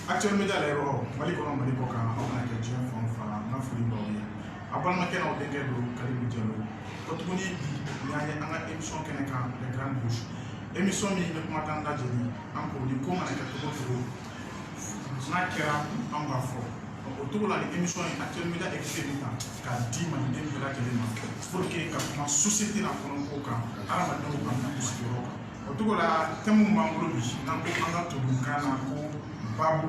actuel média la yɔrɔ mali kɔnɔ mali kɔ kan aw mana kɛ diɲɛ fan o fan n ka foli b'aw ye aw balimakɛ n'aw denkɛ don kalilu jalo ko tuguni bi n'an ye an ka émission kɛnɛ kan les grandes bouches émission min bɛ kuma tan lajɛli an ko ni ko mana kɛ cogo o cogo n'a kɛra an b'a fɔ o cogo la nin émission ye actuel média écrit min kan k'a di maliden bɛɛ lajɛlen ma pour que ka kuma société n'a kɔnɔ ko kan hadamadenw ka na sigiyɔrɔ kan o cogo la tɛmu min b'an bolo bi n'an ko an ka tubabukan na ko babu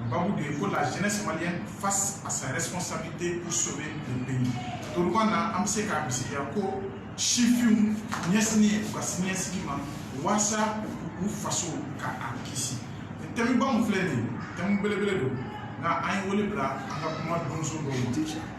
babu de ye ko la jeunesse malienne face à sa responsabilité pour sauver le pays tubabukan na an bɛ se k'a bisigiya ko sifinw ɲɛsinnen u ka siniɲɛsigi ma waasa u faso ka a kisi tɛmuba min filɛ nin ye tɛmu belebele don nka an ye wele bila an ka kuma donso dɔw ma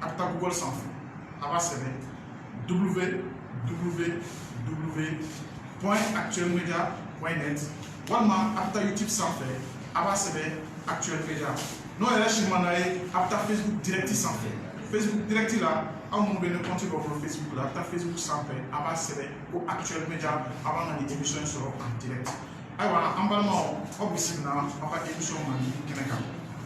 a bɛ taa google sanfɛ a b'a sɛbɛn www point actuel media point net walima a bɛ taa youtube sanfɛ a b'a sɛbɛn actuel media n'o yɛrɛ si ma ɲ'aw ye a bɛ taa facebook direct sanfɛ facebook direct la aw minnu bɛ ni compte b'aw bolo facebook la a bɛ taa facebook sanfɛ a b'a sɛbɛn ko actuel media a b'an ka nin émission in sɔrɔ en direct ayiwa an balimaw aw bisimila aw ka emisɔn mandi kɛnɛ kan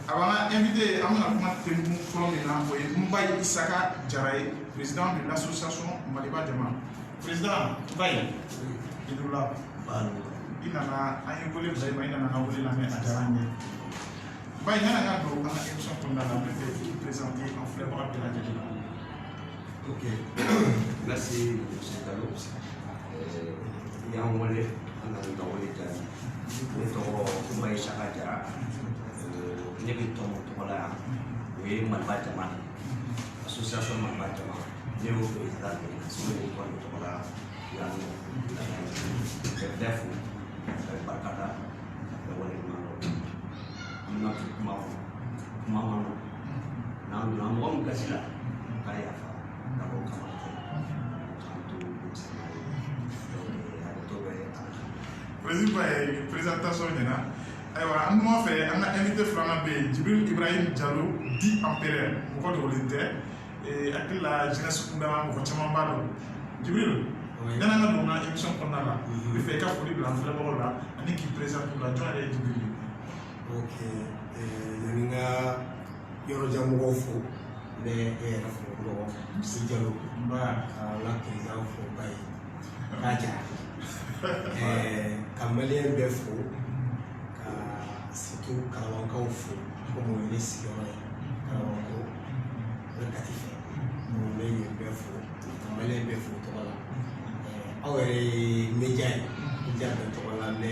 ayiwa an ka invité an bɛna kuma tɛmɛn fɔlɔ min na o ye nbayi isaka jara ye président de l'association maliba jama président nbayi i ni wula i nana an ye wele bila i ma i nana ka wele lamɛn a diyara an ye nbayi yanni an ka don an ka emisɔn kɔnɔna la an b'a fɛ k'i présenter an filɛbaga bɛɛ lajɛlen la ok merci monsieur jalo i y'an wele an nana ka wele jaabi ne tɔgɔ nbayi isaka jara ne bɛ tɔn min tɔgɔ la yan o ye maliba jama de association maliba jama ne y'o président de ye ne bɛ tɔn o tɔgɔ la yan nɔ ka bɛɛ fo ka barika da ka wale ɲuman dɔn an bɛna to kuma kɔnɔ kuma man nɔgɔn n'an donna mɔgɔ min gasi la k'a yafa dabɔ kama tɛ k'an to denmisɛnninya ye donc hakɛto bɛ an na. Président nbayi présentation ɲɛna ayiwa an numan fɛ an ka invité filanan bɛ yen jibril ibrahim jalo dit empereur mɔgɔ dogolen tɛ n hakili la jeunesse kunda mɔgɔ caman b'a dɔn jibril Oui. yan'an ka don n ka émission kɔnɔna la Mhm. n b'a fɛ i ka foli bila an filɛbagaw la ani k'i présenter u la jɔn yɛrɛ ye jibril ye yani n ka yɔrɔjan mɔgɔw fo n bɛ e yɛrɛ fo fɔlɔ misiye jalo n b'a ka n ka perezidan fo nbayi isaka jara ka maliyɛn bɛɛ fo ka surtout kalabankaw fo komi o ye ne sigiyɔrɔ ye kalabankɔrɔ bɛ kati fɛ n bɛ yen bɛɛ fo ka maliyɛn bɛɛ fo tɔgɔ la aw yɛrɛ ye média ye média bɛɛ tɔgɔ la mɛ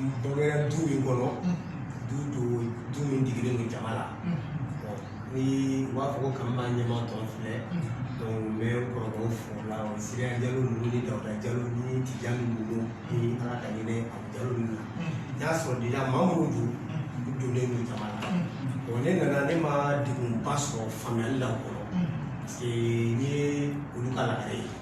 n bangera du min kɔnɔ du don du min digilen don jama la ni u b'a fɔ ko k'an b'a ɲɛma tɔn filɛ donc n bɛ kɔrɔkɛw fo o la o siriya jalo ninnu ni dawuda jalo ni tijani ninnu ni ala ka ɲinɛ abu jalo ninnu n y'a sɔrɔ déjà maa minnu don u donnen don jama la bon ne nana ne ma degunba sɔrɔ faamuyali la o kɔnɔ parce que n ye olu ka lagare ye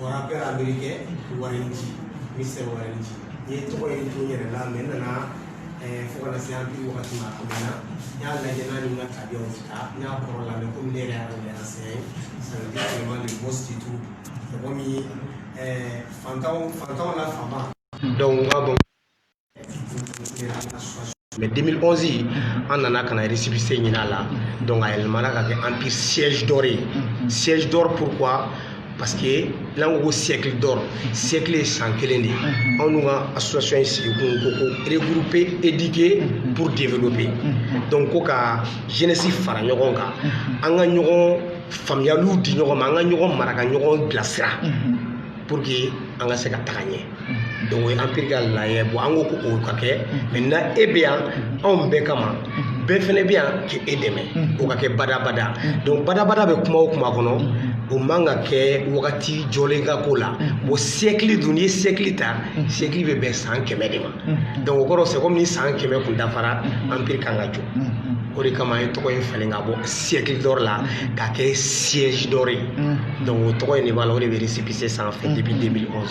wara bɛɛ amiri kɛ warinci ni sɛ warinci n ye tɔgɔ ye to yɛrɛ la mɛ n nana fo kana se an bi wagati ma a mɛnna n y'a lajɛ n'a ni n ka tabiyaw ti taa n y'a kɔrɔ la mɛ komi ne yɛrɛ y'a lajɛ a sɛ sanadi sɛma le bɔ situ mɔgɔ min fantanw fantanw la fanba dɔnku n ka bɔ Mais 2011 in an nana ka na récépissé ɲini a la donc a yɛlɛmana ka kɛ empire siège d'or ye siège d'or pourquoi parce que n'an ko ko siècle d'or siècle ye san kelen de ye anw n'u ka association ye sigi kun ko ko regrouper éduquer pour développer donc ko ka jeunesse fara ɲɔgɔn kan an ka ɲɔgɔn faamuyaliw di ɲɔgɔn ma an ka ɲɔgɔn mara ka ɲɔgɔn bilasira pour que an ka se ka taga ɲɛ donc o ye empire ka laɲɛ bon an ko ko o ka kɛ maintenant e bɛ yan anw bɛɛ kama bɛɛ fɛnɛ bɛ yan k'e dɛmɛ o ka kɛ badabada donc badabada bɛ kuma o kuma kɔnɔ o man ka kɛ wagati jɔlen ka ko la bon siècle dun n'i ye siècle ta siècle bɛ bɛn san kɛmɛ de ma donc o kɔrɔ c'est comme ni san kɛmɛ kun dafara empire kan ka jɔ o de kama an ye tɔgɔ in falen ka bɔ siècle d'or la k'a kɛ siège d'or ye donc o tɔgɔ in de b'a la o de bɛ récépissé sanfɛ depuis 2011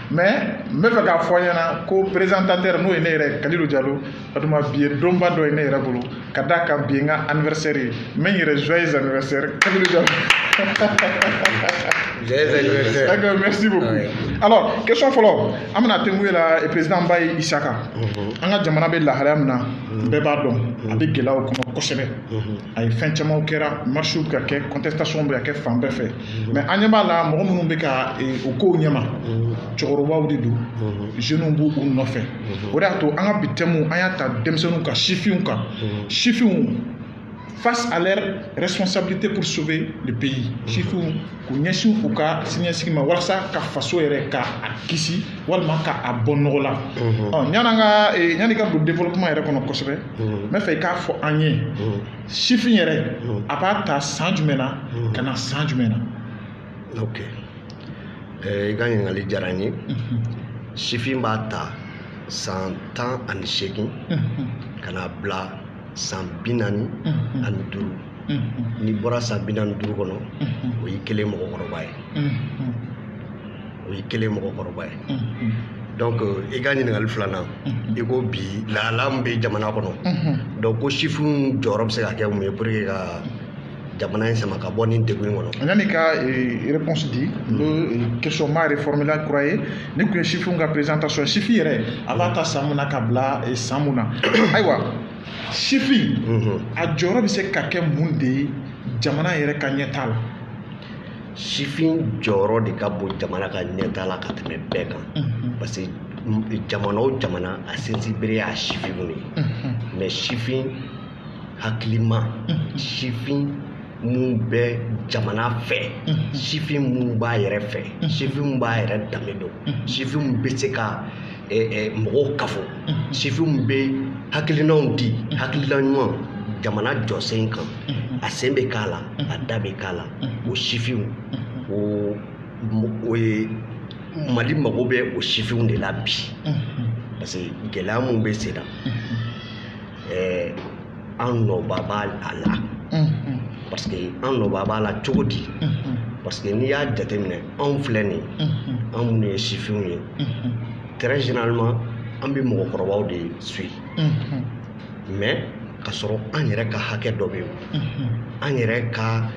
mais n bɛ fɛ k'a fɔ aw ɲɛna ko présentateur n'o ye ne yɛrɛ kalilu jalo o tuma bi ye donba dɔ ye ne yɛrɛ bolo ka d'a kan bi ye n ka anniversaire ye n bɛ n yɛrɛ joyeux anniversaire kalilu jalo joyeux anniversaire d'accord merci beaucoup ah alors question fɔlɔ an bɛna tɛnku e la président bayi isaka mhm. an ka jamana bɛ lahalaya min na mhm. bɛɛ b'a dɔn a bɛ gɛlɛyaw kɔnɔ kosɛbɛ mhm. a ye fɛn camanw kɛra marches bɛ ka kɛ contestation bɛ ka kɛ fan bɛɛ fɛ mais an ɲɛ b'a la mɔgɔ minnu bɛ ka o kow ɲɛma cɛkɔrɔbaw de don jeunes b'u nɔfɛ o de y'a to an ka bi thème an y'a ta denmisɛnninw kan sifinw kan sifinw face à leur responsabilité pour sauver le pays sifinw k'u ɲɛsin u ka siniɲɛsigi ma walasa ka faso yɛrɛ ka a kisi walima ka a bɔ nɔgɔ la mhm. yan'an ka e, yanni ka don développement yɛrɛ kɔnɔ kosɛbɛ mhm. n bɛ fɛ i k'a fɔ an ye mhm. sifin yɛrɛ a b'a ta san jumɛn na ka na san jumɛn na ok eh, i ka ɲininkali diyara n ye sifin b'a ta san tan ani seegin ka na bila san bi naani ani duuru n'i bɔra san bi naani duuru kɔnɔ o y'i kɛlen mɔgɔkɔrɔba ye o y'i kɛlen mɔgɔkɔrɔba ye donc i ka ɲininkali filanan i ko bi lahala min bɛ jamana kɔnɔ donc ko sifinw jɔyɔrɔ bɛ se ka kɛ mun ye pour que ka jamana in sama ka bɔ nin degun in kɔnɔ. Yanni ka eh, réponse di n bɛ eh, question ma reformuler kura ye nin tun ye sifinw ka présentation ye sifin yɛrɛ a b'a ta san mun na ka bila eh, san mun na ayiwa sifin mhm. a jɔyɔrɔ bɛ se ka kɛ mun de ye jamana yɛrɛ ka ɲɛtaa la. sifin jɔyɔrɔ de ka bon jamana ka ɲɛtaa la ka tɛmɛ bɛɛ kan mhm. parce que jamana o jamana a sinsinbere y'a sifinw de ye mhm. mais sifin hakilima sifin min bɛ jamana fɛ sifin min b'a yɛrɛ fɛ sifin min b'a yɛrɛ danbe dɔn sifin min bɛ se ka mɔgɔw kafo sifin min bɛ hakilinaw di hakilina ɲuman jamana jɔsen kan a sen bɛ k'a la a da bɛ k'a la o sifinw o o ye mali mago bɛ o sifinw de la bi parce que gɛlɛya min bɛ sen na ɛɛ an nɔba b'a la parce que an nɔba b'a la cogo di parce que n'i y'a jateminɛ anw filɛ nin an minnu ye sifinw ye très généralement an bɛ mɔgɔkɔrɔbaw de suit mais ka sɔrɔ an yɛrɛ ka hakɛ dɔ bɛ yen an yɛrɛ ka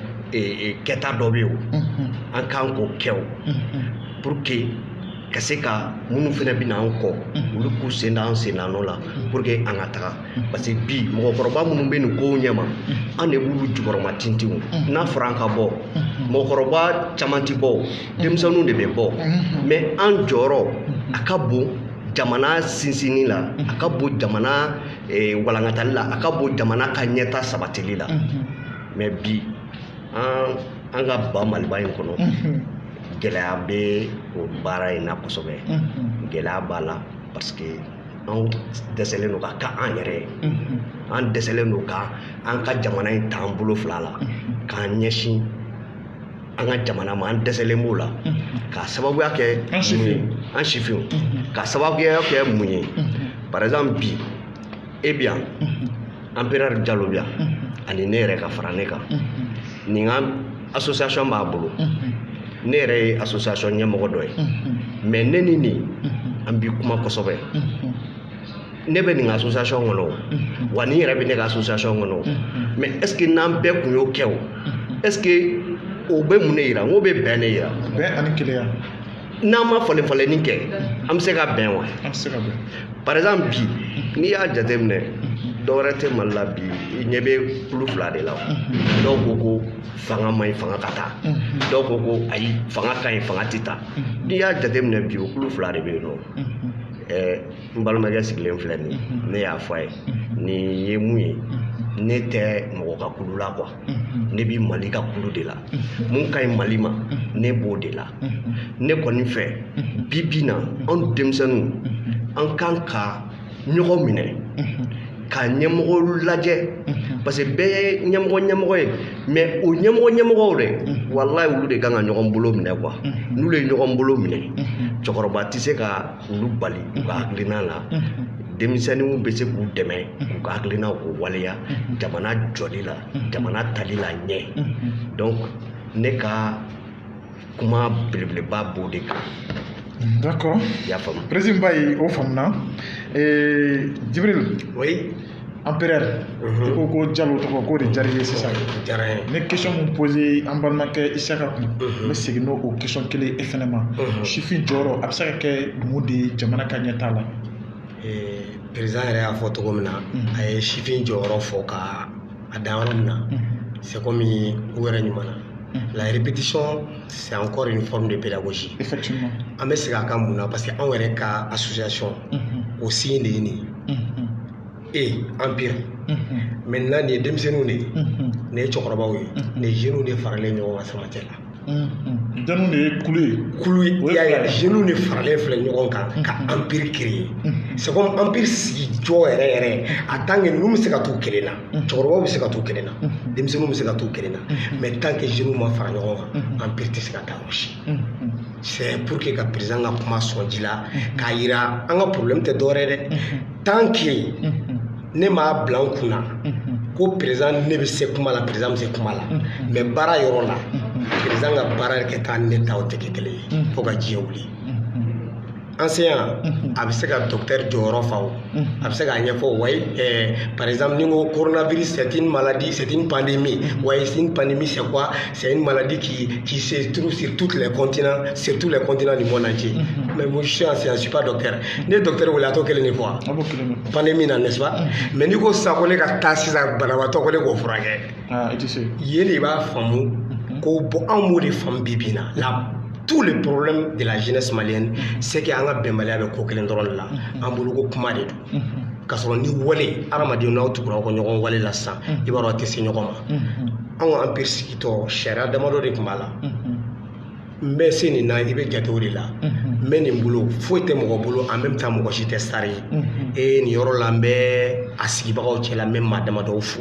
kɛta dɔ bɛ yen an kan k'o kɛ o pour que ka se ka minnu fana bɛ na an kɔ olu k'u sen da an sen da nɔ la pour que an ka taga parce que bi mɔgɔkɔrɔba minnu bɛ nin kow ɲɛma an de b'olu jukɔrɔma tintin n'a fɔra an ka bɔ mɔgɔkɔrɔba caman tɛ bɔ denmisɛnninw de bɛ bɔ mais an jɔyɔrɔ a ka bon jamana sinsinni la a ka bon jamana walankatali la a ka bon jamana ka ɲɛtaa sabatili la mais bi an ka ba maliba in kɔnɔ gɛlɛya bɛ o baara in na kosɛbɛ gɛlɛya b'a la parce que an dɛsɛlen don ka kɛ an yɛrɛ ye an dɛsɛlen don ka an ka jamana in ta an bolo fila la k'an ɲɛsin an ka jamana ma an dɛsɛlen b'o la k'a sababuya kɛ mun ye an sifinw k'a sababuya kɛ mun ye par exemple bi e bi yan Empereur Diallo bi yan ani ne yɛrɛ ka fara ne kan nin ka association b'a bolo ne yɛrɛ ye association ɲɛmɔgɔ dɔ ye mais ne ni nin an bɛ kuma kosɛbɛ ne bɛ nin ka association kɔnɔ wa nin yɛrɛ bɛ ne ka association kɔnɔ mais est-ce que n'an bɛɛ tun y'o kɛ o est-ce que o bɛ mun ne jira n k'o bɛ bɛn ne jira bɛn ani kelenya n'an ma falen falenni kɛ an bɛ se ka bɛn wa an tɛ se ka bɛn par exemple bi n'i y'a jateminɛ dɔwɛrɛ tɛ mali la bi i ɲɛ bɛ kulu fila de la dɔw ko ko fanga man ɲi fanga ka taa dɔw ko ko ayi fanga ka ɲi fanga tɛ taa n'i y'a jateminɛ bi o kulu fila de bɛ yen nɔ ɛɛ n balimakɛ sigilen filɛ nin ye ne y'a fɔ a ye nin ye mun ye ne tɛ mɔgɔ ka kulu la quoi ne bɛ mali ka kulu de la mun ka ɲi mali ma ne b'o de la ne kɔni fɛ bi bi na anw denmisɛnninw an kan ka ɲɔgɔn minɛ ka ɲɛmɔgɔ lajɛ parce que bɛɛ ye ɲɛmɔgɔ ɲɛmɔgɔ ye mais o ɲɛmɔgɔ ɲɛmɔgɔw de walayi olu de kan ka ɲɔgɔn bolo minɛ quoi n'olu ye ɲɔgɔn bolo minɛ cɛkɔrɔba tɛ se ka k'olu bali u ka hakilina la denmisɛnninw bɛ se k'u dɛmɛ k'u ka hakilinaw k'u waleya jamana jɔli la jamana taali la ɲɛ donc ne ka kuma belebeleba b'o de kan d'accord i y'a faamu président ba ye o faamuna ee jibril oui empereur i ko ko jalo tɔgɔ k'o de diyara i ye sisan diyara ye ne question min poser an balimakɛ isaka kun n bɛ segin n'o o question kelen e fɛnɛ ma sifin jɔyɔrɔ a bɛ se ka kɛ mun de ye jamana ka ɲɛtaa la président yɛrɛ y'a fɔ cogo min na a ye sifin jɔyɔrɔ fɔ ka a dan yɔrɔ min na c'est comme u yɛrɛ ɲuman na la répétition c'est encore une forme de pédagogie effectivement an bɛ segin a kan mun na parce que anw yɛrɛ ka association o signe de ye nin ye empire maintenant nin ye denmisɛnninw de ye nin ye cɛkɔrɔbaw ye nin jeniw de faralen ɲɔgɔn kan sama cɛ la denmisɛnninw de ye kulu ye kulu ye i y'a ye jeniw de faralen filɛ ɲɔgɔn kan ka empire créer c'est comme empire sigi jɔ yɛrɛ yɛrɛ en tant que ninnu bɛ se ka t'u kelen na cɛkɔrɔbaw bɛ se ka t'u kelen na denmisɛnninw bɛ se ka t'u kelen na mais tant que jeniw ma fara ɲɔgɔn kan empire tɛ se ka taa yɔrɔ si c'est pour que ka président ka kuma sɔn ji la k'a yira an ka problème tɛ dɔwɛrɛ dɛ tant que ne m'a bila n kunna ko président ne bɛ se kuma la président bɛ se kuma la mais baara yɔrɔ la président ka baara kɛta ne ta o tɛ kɛ kelen ye fo ka diɲɛ wuli enseignant a bɛ se ka docteur jɔyɔrɔ fa o a bɛ se k'a ɲɛfɔ wa par exemple ni n ko coronavirus c'est une maladie c'est une pandémie ouais c'est une pandémie c'est quoi c'est une maladie qui qui se trouve sur tous les continents sur tous les continents du monde entier mais moi je suis enseignant je suis pas docteur n'i ye docteur wele a t'o kelen de fɔ wa pandémie na n'est-ce pas mais n'i ko sisan ko ne ka taa sisan banabaatɔ ko ne k'o furakɛ i tɛ se yen de b'a faamu ko bon anw m'o de faamu bi bi in na tous les problèmes de la jeunesse malienne c'est que an ka bɛnbaliya bɛ ko kelen dɔrɔn de la an bolo ko kuma de don k'a sɔrɔ ni wale hadamadenw n'aw tugura aw ka ɲɔgɔn wale la sisan i b'a dɔn aw tɛ se ɲɔgɔn ma anw ka empire sigitɔ sariya damadɔ de tun b'a la n bɛ se nin na i bɛ jate o de la n bɛ nin bolo foyi tɛ mɔgɔ bolo en même temps mɔgɔ si tɛ sari ye ee nin yɔrɔ la n bɛ a sigibagaw cɛ la n bɛ maa damadɔw fo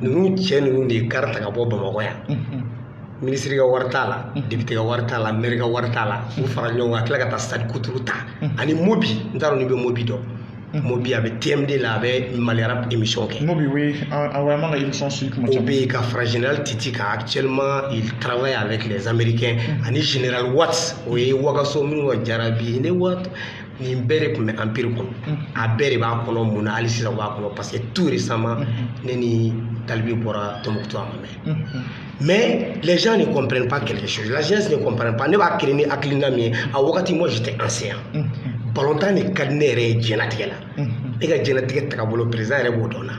ninnu cɛ ninnu de ye car ta ka bɔ bamakɔ yan ministre ka wari t'a la député ka wari t'a la maire ka wari t'a la u fara ɲɔgɔn kan ka tila ka taa sadi kuturu ta ani mobi n t'a dɔn n'i bɛ mobi dɔn mobi a bɛ tm2 la a bɛ mali rap émission kɛ mobi o ye awɔ man ka émission suit kuma o bɛ yen ka fara général titi kan actuellement il travaille avec les américains ani général watt o ye wagaso minnu ka jarabi ne wat nin bɛɛ de tun bɛ empire kɔnɔ a bɛɛ de b'a kɔnɔ mun na hali sisan u b'a kɔnɔ parce que tout récemment ne ni tal b bɔra tombouctou a ma mɛn mais les gens ne comprennent pas quelque chose la jeunesse ne comprennent pas ne b'a créer ni hakilina min ye a wagati moi j'étais enseignant balontan de ka di ne yɛrɛ ye diɲɛlatigɛ la ne ka diɲɛlatigɛ tagabolo président yɛrɛ b'o dɔn na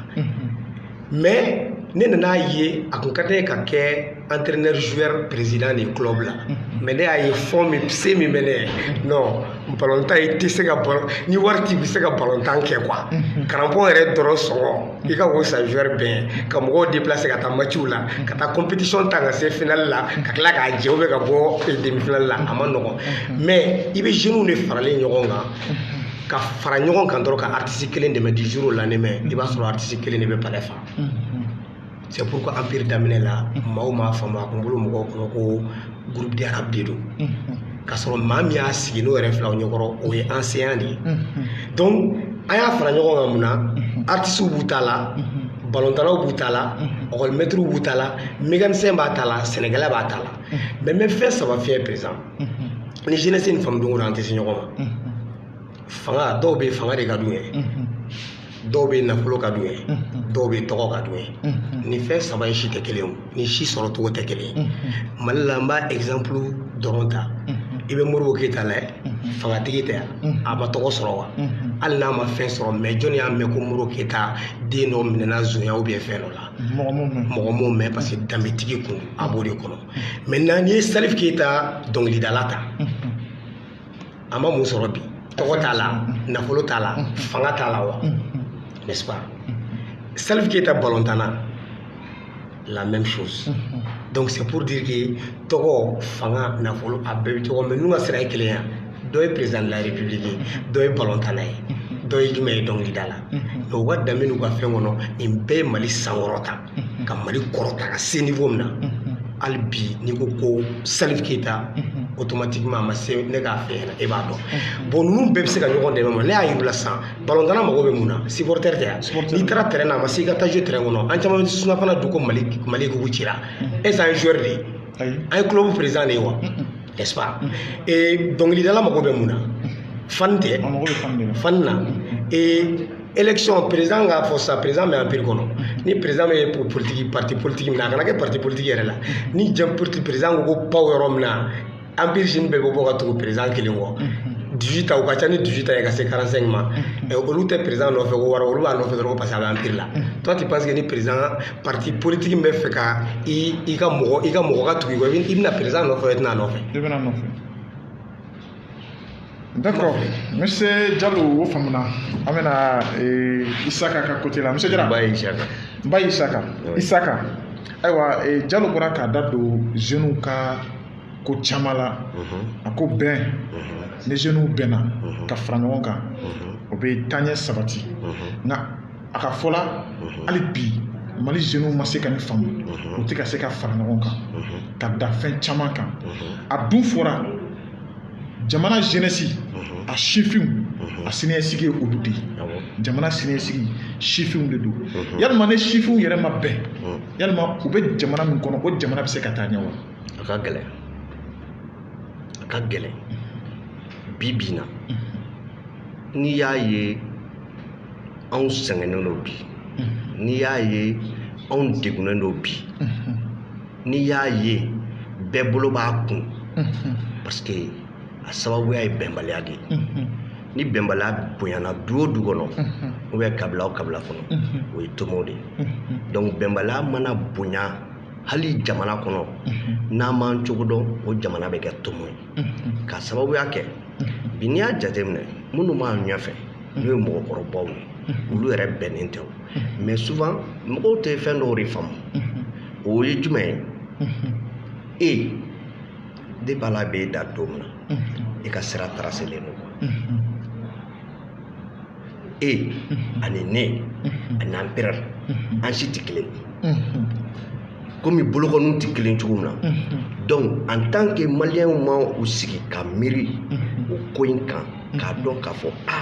mais ne nan'a ye a kun ka di n ye ka kɛ entraîneur joueur président de club la mais ne y'a ye fonds min se min bɛ ne ye non balontan i tɛ se ka balon ni wari t'i bɛ se ka balontan kɛ quoi crampon yɛrɛ dɔrɔn sɔngɔ i ka o san joueur bɛn ka mɔgɔw déplacer ka taa matchw la ka taa compétition ta ka se finale la ka tila k'a jɛ ou bien ka bɔ demi finale la a ma nɔgɔn mais i bɛ jeunes de faralen ɲɔgɔn kan ka fara ɲɔgɔn kan dɔrɔn ka artiste kelen dɛmɛ du jour au lendemain i b'a sɔrɔ artiste kelen de bɛ palais fa c'est pourquoi empire daminɛ la maaw m'a faamu a kun bolo mɔgɔw kɔnɔ ko groupe de rap de don k'a sɔrɔ maa min y'a sigi n'o yɛrɛ fil'aw ɲɛkɔrɔ o ye enseignant de ye donc an y'a fara ɲɔgɔn kan mun na artistes b'u ta la balontannaw b'u ta la ekɔlimɛtiriw b'u ta la mécanicien b'a ta la sɛnɛkɛla b'a ta la mais n bɛ fɛn saba f'i ye président ni jeunesse in faamu don an tɛ se ɲɔgɔn ma fanga dɔw bɛ fanga de ka d'u ye dɔw bɛ nafolo ka d'u ye dɔw bɛ tɔgɔ ka d'u ye ni fɛn saba in si tɛ kelen ye ni si sɔrɔ cogo tɛ kelen ye mali la n b'a exemple dɔrɔn ta i bɛ modibo keyita lajɛ fangatigi tɛ yan a ma tɔgɔ sɔrɔ wa hali n'a ma fɛn sɔrɔ mais jɔnni y'a mɛn ko modibo keyita den dɔ minɛna sonya ou bien fɛn dɔ la mɔgɔ m'o mɛn mɔgɔ m'o mɛn parce que danbetigi kun a b'o de kɔnɔ maintenant n'i ye salif keyita dɔnkilidala ta a ma mun sɔrɔ bi tɔgɔ t'a la nafolo t'a la fanga t'a la wa n'est-ce pas salif keyita balontanna la même chose donc c'est pour dire que tɔgɔ fanga nafolo a bɛɛ bɛ tɔgɔ mais ninnu ka sira ye kelen ye wa dɔ ye président de la république ye dɔ ye balontanna ye dɔ ye jumɛn ye dɔnkilidala mais u ka danbe n'u ka fɛn kɔnɔ nin bɛɛ ye mali sankɔrɔta ka mali kɔrɔta ka se niveau min na hali bi n'i ko ko salifu keyita automatiquement a ma se ne k'a fɛ ɲɛna e b'a dɔn bon ninnu bɛɛ bɛ se ka ɲɔgɔn dɛmɛ ma ne y'a yir'u la sisan balɔntanna mago bɛ mun na supporter tɛ yan n'i taara terrain na a ma se i ka taa jɔ terrain kɔnɔ an caman surafana dun ko mali mali kugu cira est-ce an ye joueur de ye an ye club président de ye wa n'est-ce pas dɔnkilidala mago bɛ mun na fan tɛ fan na élection président k'a fɔ sa président bɛ empire kɔnɔ ni président bɛ pour politique parti politique min na a kana kɛ parti politique yɛrɛ la ni jɛn politique président ko ko paw yɔrɔ min na empire jeune bɛɛ bɛ bɔ ka tugu président kelen kɔ 18 ans u ka ca ni 18 ans ye ka se 45 ma ɛ olu tɛ président nɔfɛ ko wari olu b'a nɔfɛ dɔrɔn ko parce que a bɛ empire la toi tu penses que ni président parti politique min bɛ fɛ ka i i ka mɔgɔ i ka mɔgɔ ka tugu i kɔ i bɛ- i bɛ na président nɔfɛ i tɛ na a nɔfɛ i bɛ n'a nɔfɛ D'accord. Monsieur Diallo, o faamuna. An bɛ na ee Isaka ka côté la. Monsieur Jara. Ba Isaka. Ba Isaka. Isaka. Ayiwa ee Diallo bɔra k'a da don jeunes ka ko caman la. A ko bɛn. Ni jeunes bɛnna ka fara ɲɔgɔn kan, o bɛ taaɲɛ sabati. Nka a ka fɔ la mhm. hali bi mali jeunes ma se ka nin faamu mhm. u tɛ ka se ka fara ɲɔgɔn kan mhm. ka da fɛn caman kan a dun fɔra jamana jeunesse a sifinw a siniɲɛsigi ye olu de ye jamana siniɲɛsigi sifinw de don yalima ni sifinw yɛrɛ ma bɛn yalima u bɛ jamana min kɔnɔ o jamana bɛ se ka taa ɲɛ wa a ka gɛlɛn a ka gɛlɛn bi bi in na n'i y'a ye anw sɛgɛnnen don bi n'i y'a ye anw degunnen don bi n'i y'a ye bɛɛ bolo b'a kun parce que a sababuya ye bɛnbaliya de ye ni bɛnbaliya bonyana du o du kɔnɔ ou bien kabila o kabila kɔnɔ o ye tomo de ye donc bɛnbaliya mana bonya hali jamana kɔnɔ n'an m'an cogo dɔn o jamana bɛ kɛ tomo ye k'a sababuya kɛ bi n'i y'a jateminɛ minnu b'an ɲɛfɛ n'o ye mɔgɔkɔrɔbaw ye olu yɛrɛ bɛnnen tɛ o mais souvent mɔgɔw tɛ fɛn dɔw de faamu o ye jumɛn ye depuis ala b'e da don min na i ka sira tracélen don e ani ne ani empire an si tɛ kelen komi bolokɔniw tɛ kelen cogo min na donc en tant que maliyɛnw ma u sigi ka miiri o ko in kan k'a dɔn k'a fɔ a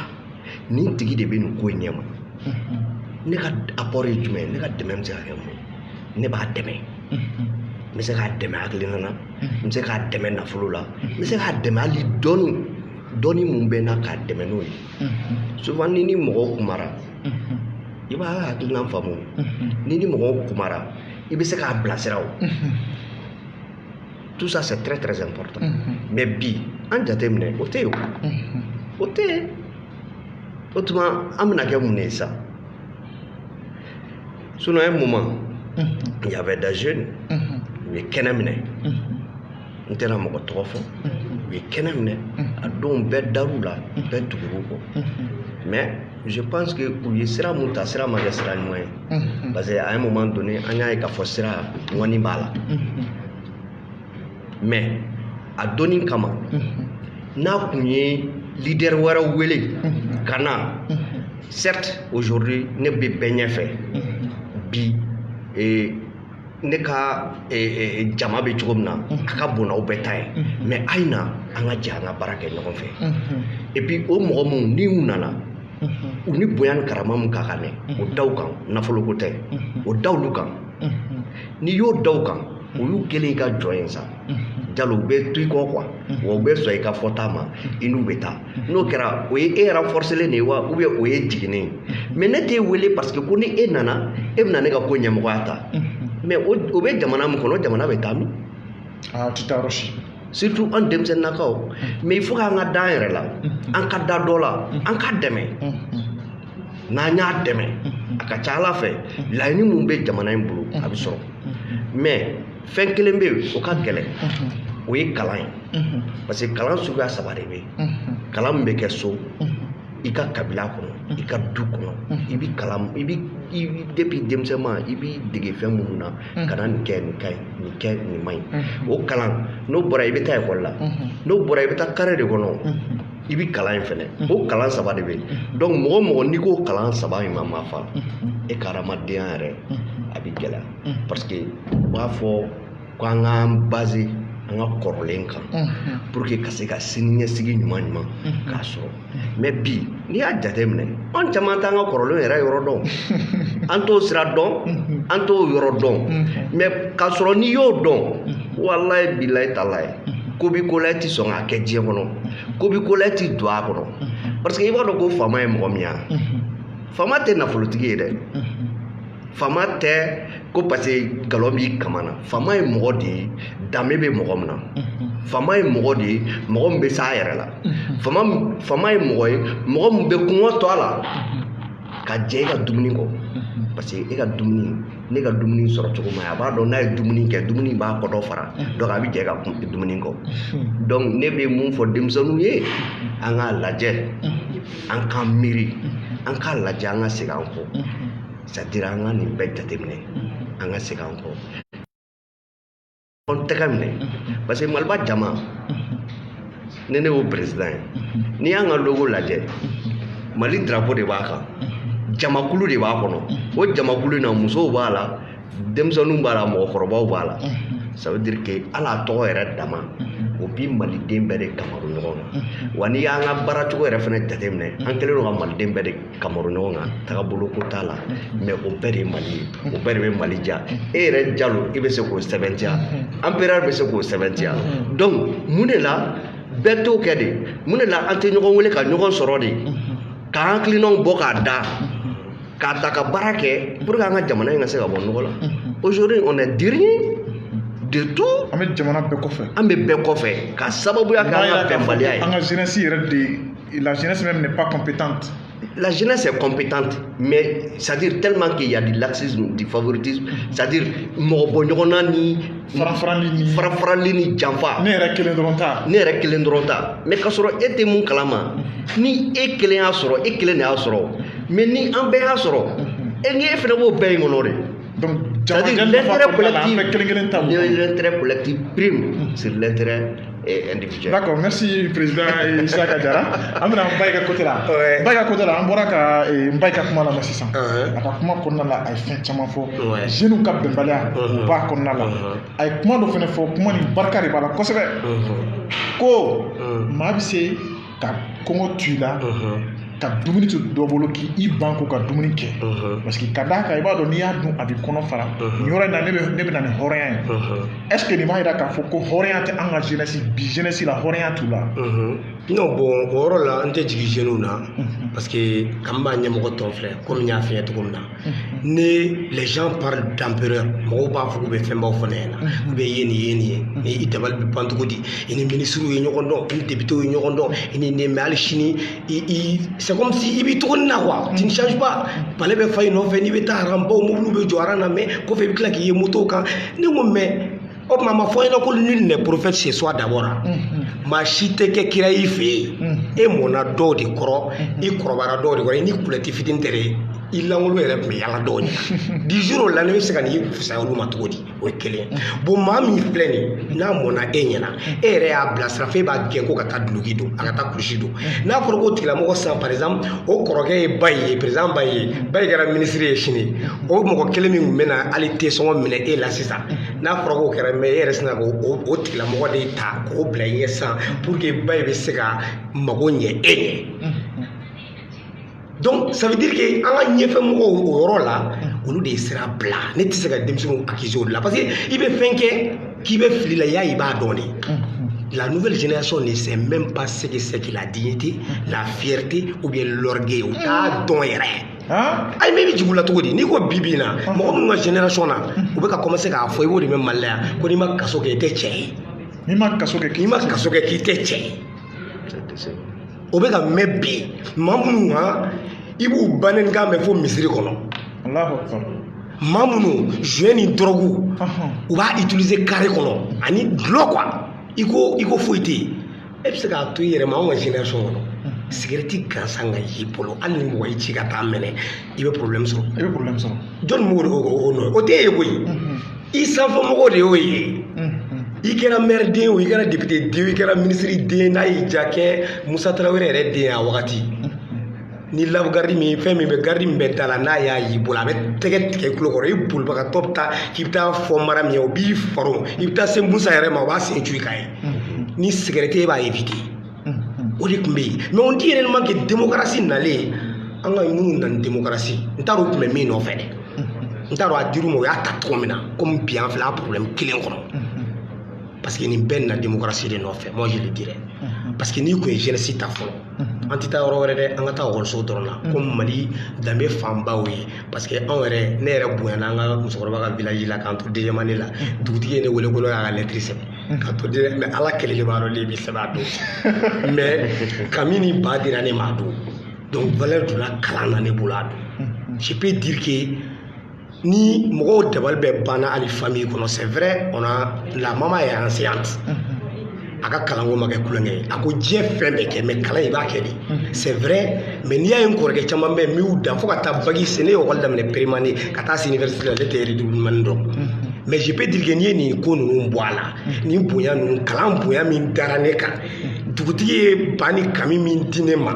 nin tigi de bɛ nin ko in ɲɛma ne ka apport ye jumɛn ye ne ka dɛmɛ bɛ se ka kɛ mun ye ne b'a dɛmɛ n bɛ se k'a dɛmɛ hakilina na n bɛ se k'a dɛmɛ nafolo la n bɛ se k'a dɛmɛ hali dɔɔni dɔɔni mun bɛ n na k'a dɛmɛ n'o ye souvent n'i ni mɔgɔw kumara i b'a ka hakilinan faamu n'i ni mɔgɔw kumara i bɛ se k'a bilasira o tout ça c'est très très important mais bi an jateminɛ o tɛ yen o tɛ yen o tuma an bɛna kɛ mun de ye sa sinon un moment il y avait des jeunes u ye kɛnɛ minɛ n tɛna mɔgɔ tɔgɔ fɔ u ye kɛnɛ minɛ a don bɛɛ dar'u la bɛɛ tugur'u kɔ mais je pense que u ye sira mun ta sira ma kɛ sira ɲuman ye parce que à un moment donné an y'a ye k'a fɔ sira ŋɔni b'a la mais a donni kama n'a kun ye leader wɛrɛw wele ka na certes aujourd'hui ne bɛ bɛɛ ɲɛfɛ bi ne ka jama bɛ cogo min na a ka bon n'aw bɛɛ ta ye mais a ye na an ka jɛ an ka baara kɛ ɲɔgɔn fɛ et puis o mɔgɔ minnu ni u nana u ni bonya ni karama min ka kan dɛ o da u kan nafoloko tɛ o da olu kan n'i y'o da u kan o y'u kɛlen i ka jɔn ye sa jalo u bɛ to i kɔ quoi wa u bɛ sɔn i ka fɔta ma i n'u bɛ taa n'o kɛra o ye e renforcélen de ye wa ou bien o y'e jiginnen ye mais ne t'e wele parce que ko ni e nana e bɛna ne ka ko ɲɛmɔgɔya ta mais o bɛ jamana min kɔnɔ jamana bɛ taa min a tɛ taa yɔrɔ si surtout an denmisɛnninnakaw mais il faut k'an ka da an yɛrɛ la an ka da dɔ la an k'a dɛmɛ n'an y'a dɛmɛ a ka ca ala fɛ laɲini min bɛ jamana in bolo a bɛ sɔrɔ mais fɛn kelen bɛ yen o ka gɛlɛn o ye kalan ye parce que kalan suguya saba de bɛ yen kalan min bɛ kɛ so i ka kabila kɔnɔ i ka du kɔnɔ i bɛ kalan i bɛ i bɛ depuis denmisɛnma i b'i dege fɛn minnu na kana nin kɛ nin ka ɲi nin kɛ nin man ɲi o kalan n'o bɔra i bɛ taa ekɔli la n'o bɔra i bɛ taa kare de kɔnɔ i bɛ kalan yen fɛnɛ o kalan saba de bɛ yen donc mɔgɔ o mɔgɔ n'i k'o kalan saba in ma mafa e ka hadamadenya yɛrɛ a bɛ gɛlɛya parce que u b'a fɔ ko an k'an baser an ka kɔrɔlen kan pour que ka se ka sini ɲɛsigi ɲuman ɲuman k'a sɔrɔ mais bi n'i y'a jateminɛ an caman t'an ka kɔrɔlen yɛrɛ yɔrɔ dɔn an t'o sira dɔn an t'o yɔrɔ dɔn mais k'a sɔrɔ n'i y'o dɔn walayi bilayi talayi ko bi ko la i ti sɔn k'a kɛ diɲɛ kɔnɔ ko bi ko la i ti don a kɔnɔ parce que i b'a dɔn ko faama ye mɔgɔ min ye faama tɛ nafolotigi ye dɛ faama tɛ ko parce que galon b'i kaman na faama ye mɔgɔ de ye danbe bɛ mɔgɔ min na faama ye mɔgɔ de ye mɔgɔ min bɛ s'a yɛrɛ la faama ye mɔgɔ ye mɔgɔ min bɛ kɔngɔ to a la ka jɛ i ka dumuni kɔ parce que e ka dumuni n'e ka dumuni sɔrɔ cogo man ɲi a b'a dɔn n'a ye dumuni kɛ dumuni b'a kɔnɔ fara donc a bɛ jɛ i ka dumuni kɔ donc ne bɛ mun fɔ denmisɛnninw ye an k'a lajɛ an k'an miiri an k'a lajɛ an ka segin an kɔ c'est-à-dire an ka nin bɛɛ jateminɛ an ka segin an kɔ an tɛgɛ minɛ parce que maliba jama ni ne y'o président ye n'i y'an ka logo lajɛ mali drapeau de b'a kan jamakulu de b'a kɔnɔ o jamakulu in na musow b'a la denmisɛnninw b'a la mɔgɔkɔrɔbaw b'a la ça veut dire que hali a tɔgɔ yɛrɛ dama o bi maliden bɛɛ de kamaru ɲɔgɔn kan wa n'i y'an ka baara cogo yɛrɛ fana jateminɛ an kɛlen don ka maliden bɛɛ de kamaru ɲɔgɔn kan tagabolo ko t'a la mais o bɛɛ de ye mali ye o bɛɛ de bɛ mali diya e yɛrɛ jalo i bɛ se k'o sɛbɛntiya empereur bɛ se k'o sɛbɛntiya donc mun de la bɛɛ t'o kɛ de mun de la an tɛ ɲɔgɔn wele ka ɲɔgɔn sɔrɔ de k'an hakilinaw bɔ k'a da k'a ta ka baara kɛ pour que an ka jamana in ka se ka bɔ nɔgɔ la aujourd'hui on est dernier de tout an bɛ jamana bɛɛ kɔfɛ an bɛ bɛɛ kɔfɛ ka sababuya kɛ an ka bɛnbaliya ye an ka jeunesse yɛrɛ de la jeunesse même n'est pas compétente la jeunesse est compétente, mais c'est-à-dire tellement qu'il y a du laxisme, du favoritisme, c'est-à-dire mɔgɔ bɔ ɲɔgɔnna ni farafarali ni janfa ne yɛrɛ kelen dɔrɔn ta mais k'a sɔrɔ e tɛ mun kalama ni e kelen y'a sɔrɔ e kelen de y'a sɔrɔ mais ni an bɛɛ y'a sɔrɔ e ni e fana b'o bɛɛ in kɔnɔ de C'est-à-dire l'intérêt collectif prime sur l'intérêt individuel. D'accord, merci président Issaka Diarra. An bɛna Mbaye ka côté la. Ouais. Mbaye ka côté la, an bɔra ka eh, Mbaye ka kuma lamɛn sisan. Uh-huh. A ka kuma kɔnɔna la, a ye fɛn caman fɔ. Ouais. Jeunes ka bɛnbaliya, Uh-huh. o b'a kɔnɔna la. Uh-huh. A ye kuma dɔ fana fɔ, kuma nin barika de b'a la kosɛbɛ. Mhm. Ko Mhm. maa bɛ se ka kɔngɔ to i la ka dumuni to dɔ bolo k'i i ban ko ka dumuni kɛ parce que ka d'a kan i b'a dɔn n'i y'a dun a b'i kɔnɔ fara nin yɔrɔ in na ne bɛ na ni hɔrɔnya ye est ce que nin b'a yira k'a fɔ ko hɔrɔnya tɛ an ka jeunesse bi jeunesse la hɔrɔnya t'u la. non bon o yɔrɔ la n tɛ jigin jeunes na parce que k'an b'a ɲɛmɔgɔ tɔn filɛ komi n y'a f'i ye cogo min na. ni lajɛɔn pa danpy mɔgɔw b'a fɔ bɛ fɛnbaw fana ye na u bɛ ye nin ye nin ye ni i dabali bɛ bancogo di i ni minisiriw ye ɲɔgɔn dɔn i debite ye ɲɔgɔn dɔn i ni nɛmɛ ali sini sɛsi i bɛ cogo na wa tisaba bale bɛ fa in nɔfɛ n'i bɛ taa baw mobili bɛ jɔ na mɛ ko fɛ i bɛ tila k'i ye motow kan ni ko mɛ o tuma a ma fɔ ɲɛna ko nul n'est prophète chez soi d'abord maa si tɛ kɛ kira i fɛ yen e mɔnna dɔw de kɔrɔ i kɔrɔbayara dɔw de kɔrɔ i ni kulɛti fitini tɛ dɛ i lankolon yɛrɛ tun bɛ yala dɔw ɲɛ du jour au lendemain i bɛ se ka n'i fisaya olu ma cogo di o ye kelen ye bon maa min filɛ nin ye n'a mɔnna e ɲɛna e yɛrɛ y'a bilasira f'e b'a gɛn ko ka taa duloki don a ka taa kulusi don n'a fɔra k'o tigilamɔgɔ sisan par exemple o kɔrɔkɛ ye Mbaye président Mbaye Mbaye kɛra minisiri ye sini o mɔgɔ kelen min tun bɛ na hali te sɔngɔ minɛ e la sisan n'a fɔra k'o kɛra mais e yɛrɛ sina k'o tigilamɔgɔ de ta k'o bila i ɲɛ sisan pour que ba in bɛ se ka mago ɲɛ e ɲɛ donc ça veut dire que an ka ɲɛfɛ mɔgɔw o yɔrɔ la olu de ye sira bila ne tɛ se ka denmisɛnninw accuser o de la parce que i bɛ fɛn kɛ k'i bɛ fili la y'a i b'a dɔn de la nouvelle génération ne sait même pas ce que c'est que la dignité la fierté ou bien l'orgueil u t'a dɔn yɛrɛ ayi mais i bɛ jigin u la cogo di n'i ko bi bi in na mɔgɔ minnu ka génération na u bɛ ka commencer k'a fɔ i b'o de mɛn Mali la yan ko n'i ma kaso kɛ i tɛ cɛ ye n'i ma kaso kɛ k'i n'i ma kaso kɛ k'i tɛ cɛ ye o bɛ ka mɛn bi maa minnu kan i b'u bannen kan mɛn fo misiri kɔnɔ Alahu akibaru. maa minnu joint ni dɔrɔgu Ɔhɔn. u b'a utiliser carré kɔnɔ ani dulɔ quoi i ko i ko foyi tɛ yen e bɛ se k'a to i yɛrɛ ma anw ka génération kɔnɔ sigɛrɛti gansan ka y'i bolo hali ni mɔgɔ y'i ci ka taa minɛ i bɛ problème sɔrɔ i bɛ problème sɔrɔ jɔni b'o de o o nɔ o tɛ e ye koyi i sanfɛ mɔgɔw de y'o ye i kɛra maire den o i kɛra député den o i kɛra ministre den n'a y'i ja kɛ Musa Tarawele yɛrɛ den ye a wagati ni labu garidi min ye fɛn min bɛ garidi min bɛ da la n'a y'a y'i bolo a bɛ tɛgɛ tigɛ i tulo kɔrɔ i bolibagatɔ bɛ taa k'i bɛ taa fɔ Mariyamu ye o b'i faro i bɛ taa se Musa yɛrɛ ma o b'a sen cu i kan ye ni sigɛrɛti e b'a éviter o de tun bɛ yen mais on dit réellement que démocratie nalen an ka minnu nana démocratie n t'a dɔn u tun bɛ min nɔfɛ dɛ n t'a dɔn a dir'u ma u y'a ta cogo min na komi bi an filɛ a problème kelen kɔnɔ parce que nin bɛɛ nana démocratie de nɔfɛ moi je le dirais parce que n'i tun ye jeunesse ta fɔlɔ an tɛ taa yɔrɔ wɛrɛ dɛ an ka taa ekɔliso dɔrɔn na ko Mali danbe fanbaw ye parce que anw yɛrɛ ne yɛrɛ bonyana an ka musokɔrɔba ka village la k'an to deuxième année la dugutigi ye ne wele ko ne y'a ka lɛtiri sɛbɛn ka to de mais Ala kelen de b'a dɔn ne bɛ sɛbɛn a don mais kami ni ba dira ne ma a don donc valeur donna kalan na ne bolo a don je peux dire que ni mɔgɔw dabali bɛɛ banna hali famille kɔnɔ c'est vrai on a la maman est enseignante a ka kalanko ma kɛ tulonkɛ ye a ko diɲɛ fɛn bɛɛ kɛ mais kalan i b'a kɛ de c'est vrai mais n'i y'a ye n kɔrɔkɛ caman bɛ yen n y'u dan fo ka taa bac se ne ye ekɔli daminɛ première année ka taa se université la ne tɛ redoublement dɔn mais je peux dire que n'i ye nin ko ninnu bɔ a la nin bonya ninnu kalan bonya min dara ne kan dugutigi ye ba ni kami min di ne ma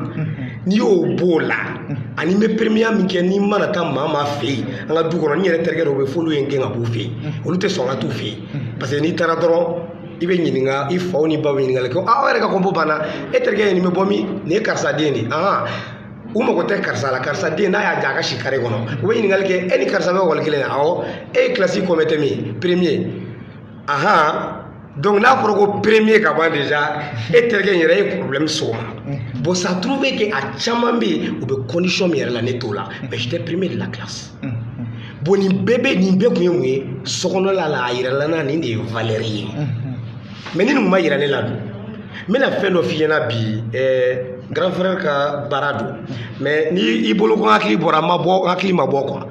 n'i y'o b'o la ani n bɛ premier min kɛ n'i mana taa maa maa fɛ yen an ka du kɔnɔ n yɛrɛ terikɛ dɔw bɛ f'olu ye n gɛn ka b'u fɛ yen olu tɛ sɔn ka t'u fɛ yen parce que n'i taara dɔrɔn i bɛ ɲininka i faw ni baw bɛ ɲininkali kɛ aw yɛrɛ ka compo banna e terikɛ ye nin bɛ bɔ min nin ye karisa den de ye ahan u mago tɛ karisa la karisa den n'a y'a ja a ka si carré kɔnɔ u bɛ ɲininkali kɛ e ni karisa bɛ ekɔli kelen na awɔ e ye kilasi combientième ye premier donc n'a fɔra ko premier ka ban déjà e terikɛ yɛrɛ ye problème sɔrɔ mm-hmm. bon ça trouve que a caman bɛ yen u bɛ condition min yɛrɛ la ne t'o la mais j'étais premier de la classe mm-hmm. bon nin bɛɛ bɛ nin bɛɛ kun ye mun ye sokɔnɔla la a yirala n na nin de ye valeur ye mm-hmm. mais ni nin ma yira ne la dun n bɛna fɛn dɔ f'i ɲɛna bi ɛɛ grand frère ka baara don mais ni i bolo ko hakili bɔra ma bɔ hakili ma bɔ quoi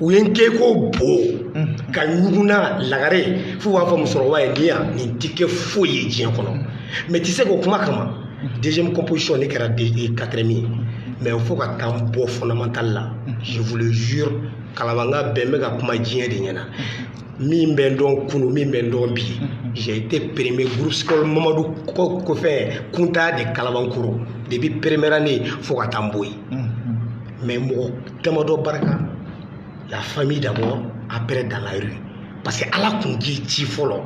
u ye n kɛ ko bo ka ɲuguna lagare f'u b'a fɔ musokɔrɔba ye ni yan nin ti kɛ foyi ye diɲɛ kɔnɔ mais ti se k'o kuma kama deuxième composition ne kɛra quatrième ye mais fo ka taa n bɔ fondamental la je vous le jure kalabanka bɛɛ n bɛ ka kuma diɲɛ de ɲɛna min bɛ n dɔn kunu min bɛ n dɔn bi j'ai été premier groupe scolaire mamadu kɔfɛ kunta de kalabankoro depuis première année fo ka taa n bɔ yen mais mɔgɔ damadɔ barika la famille d'abord après dans la rue parce que ala kun k'i ci fɔlɔ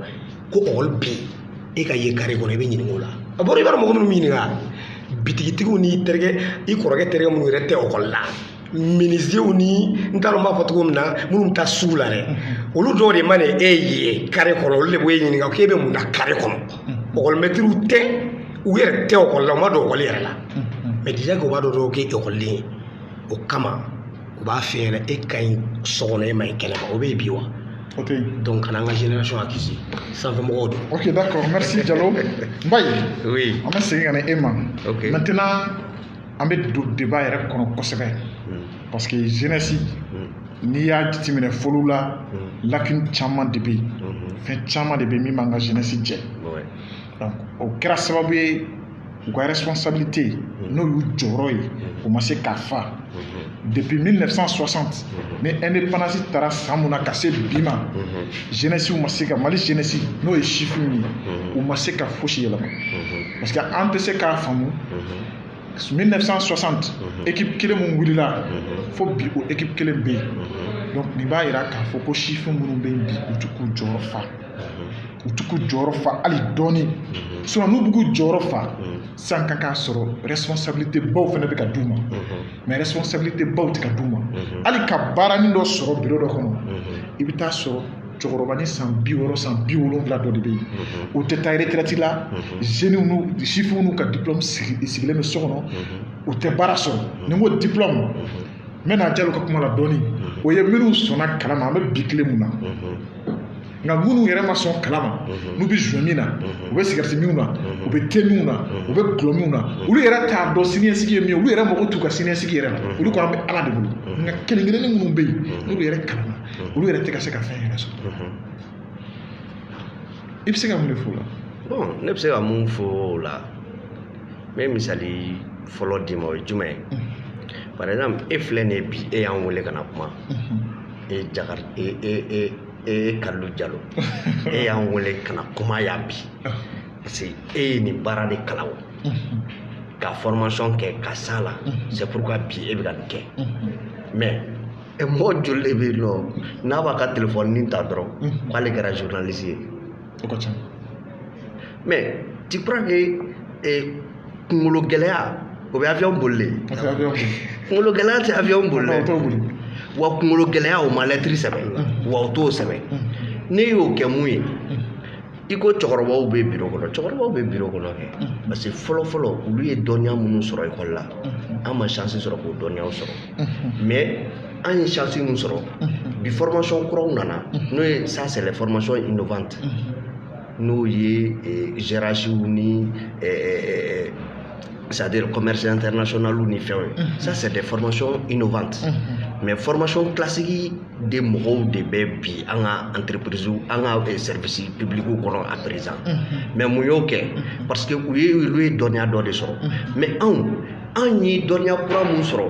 ko ɔkɔli bɛ yen e ka ye kare kɔnɔ i bɛ ɲininka o la a bɔra i b'a dɔn mɔgɔ minnu ɲininka bitigitigiw ni terikɛ i kɔrɔkɛ terikɛ minnu yɛrɛ tɛ ɔkɔli la minizew ni n t'a dɔn n b'a fɔ cogo min na minnu bɛ taa sugu la dɛ olu dɔw de mana e ye kare kɔnɔ olu de b'e ɲininka k'e bɛ mun na kare kɔnɔ ɔkɔlimɛtiriw tɛ u yɛrɛ tɛ ɔkɔli la u ma don ɔkɔli yɛrɛ la mais déjà k'u b'a dɔn dɔrɔn k'e ekɔliden ye o kama u b'a f'i ɲɛna e ka ɲi so kɔnɔ e ma ɲi kɛnɛ ma o bɛ yen bi wa Ok. donc kana an ka génération accuser sanfɛmɔgɔw don Ok, d'accord. Merci, Diallo. Mbaye, oui an bɛ segin ka na e ma. Ok. Maintenant, an bɛ don débat yɛrɛ kɔnɔ kosɛbɛ. Mm, Parce que jeunesse, mm, n'i y'a jateminɛ fɔlɔ la, mm, lacune caman de bɛ yen. mhm, Fɛn caman de bɛ yen min b'an ka jeunesse jɛ. ouais. Donc, o kɛra sababu ye u ka responsabilité mm-hmm. n'o y'u jɔyɔrɔ ye mm-hmm. u ma se k'a fa mm-hmm. depuis 1960 ni indépendance taara san mun na ka se bi ma jeunesse ma se ka mali jeunesse n'o ye sifin ye u ma se ka fosi yɛlɛma parce que an tɛ se k'a faamu 1960 équipe kelen min wulila fo bi o équipe kelen bɛ yen donc nin b'a yira k'a fɔ ko sifin minnu bɛ yen bi u ti k'u jɔyɔrɔ fa u ti k'u jɔyɔrɔ fa hali dɔɔni sinon n'u bɛ k'u jɔyɔrɔ fa san ka k'a sɔrɔ responsabilité baw fana bɛ ka d'u ma mais responsabilité baw tɛ ka d'u ma hali ka baaranin dɔ sɔrɔ biro dɔ kɔnɔ i bɛ taa sɔrɔ cɛkɔrɔba ni san bi wɔɔrɔ san bi wolonfila dɔ de bɛ yen o tɛ taa retraite la zeniw n'u sifinw n'u ka diplɔmu sigilen bɛ so kɔnɔ u tɛ baara sɔrɔ ni n ko diplɔmu n bɛ na jalo ka kuma la dɔɔnin mhm. o ye minnu sɔnna kalan ma an bɛ bi tile min na mhm. nka minnu yɛrɛ ma sɔn kalan ma mhm. n'u bɛ joint min na u bɛ sigarɛti minnu na u bɛ te minnu na u bɛ dɔlɔ minnu na olu yɛrɛ t'a dɔn siniɲɛsigi ye min ye olu yɛrɛ mago t'u ka siniɲɛsigi yɛrɛ la olu ko an bɛ ala de bolo nka kelen kelennin minnu bɛ yen n'olu yɛrɛ kalanna olu yɛrɛ tɛ ka se ka fɛn yɛrɛ sɔrɔ i bɛ se ka mun de fɔ o la ne bɛ se ka mun fɔ o la n bɛ misali fɔlɔ d'i ma o ye jumɛn ye par exemple e filɛ nin ye bi e y'an wele ka na kuma e ye jakari e e e e ye kalilu jalo e y'an wele ka na kuma yan bi parce que e ye nin baara de kalan o ka formation kɛ ka s'a la c'est pourquoi bi e bɛ ka nin kɛ mais mɔgɔ joli de bɛ yen nɔ n'a b'a ka telefɔni ta dɔrɔn k'ale kɛra journaliste ye o ka ca mais tu crois que kungolo gɛlɛya o bɛ avion boli de kungolo gɛlɛya tɛ avion boli dɛ wa kungolo gɛlɛya o ma lɛtiri sɛbɛn wa o t'o sɛbɛn ne y'o kɛ mun ye i ko cɛkɔrɔbaw bɛ biro kɔnɔ cɛkɔrɔbaw bɛ biro kɔnɔ kɛ parce que fɔlɔ fɔlɔ olu ye dɔnniya minnu sɔrɔ ekɔli la an ma chance sɔrɔ k'o dɔnniyaw sɔrɔ mais an ye chance min sɔrɔ bi formation kuraw nana n'o ye ça c'est les formations innovantes n'o ye GRHw ni c'est-à-dire commerce international ni fɛnw ye ça c'est des formations innovantes mais formation classique de mɔgɔw de bɛ bi an ka entreprise an ka service public kɔnɔ à présent mais mun y'o kɛ parce que u ye olu ye dɔnniya dɔ de sɔrɔ mais anw anw ye dɔnniya kura min sɔrɔ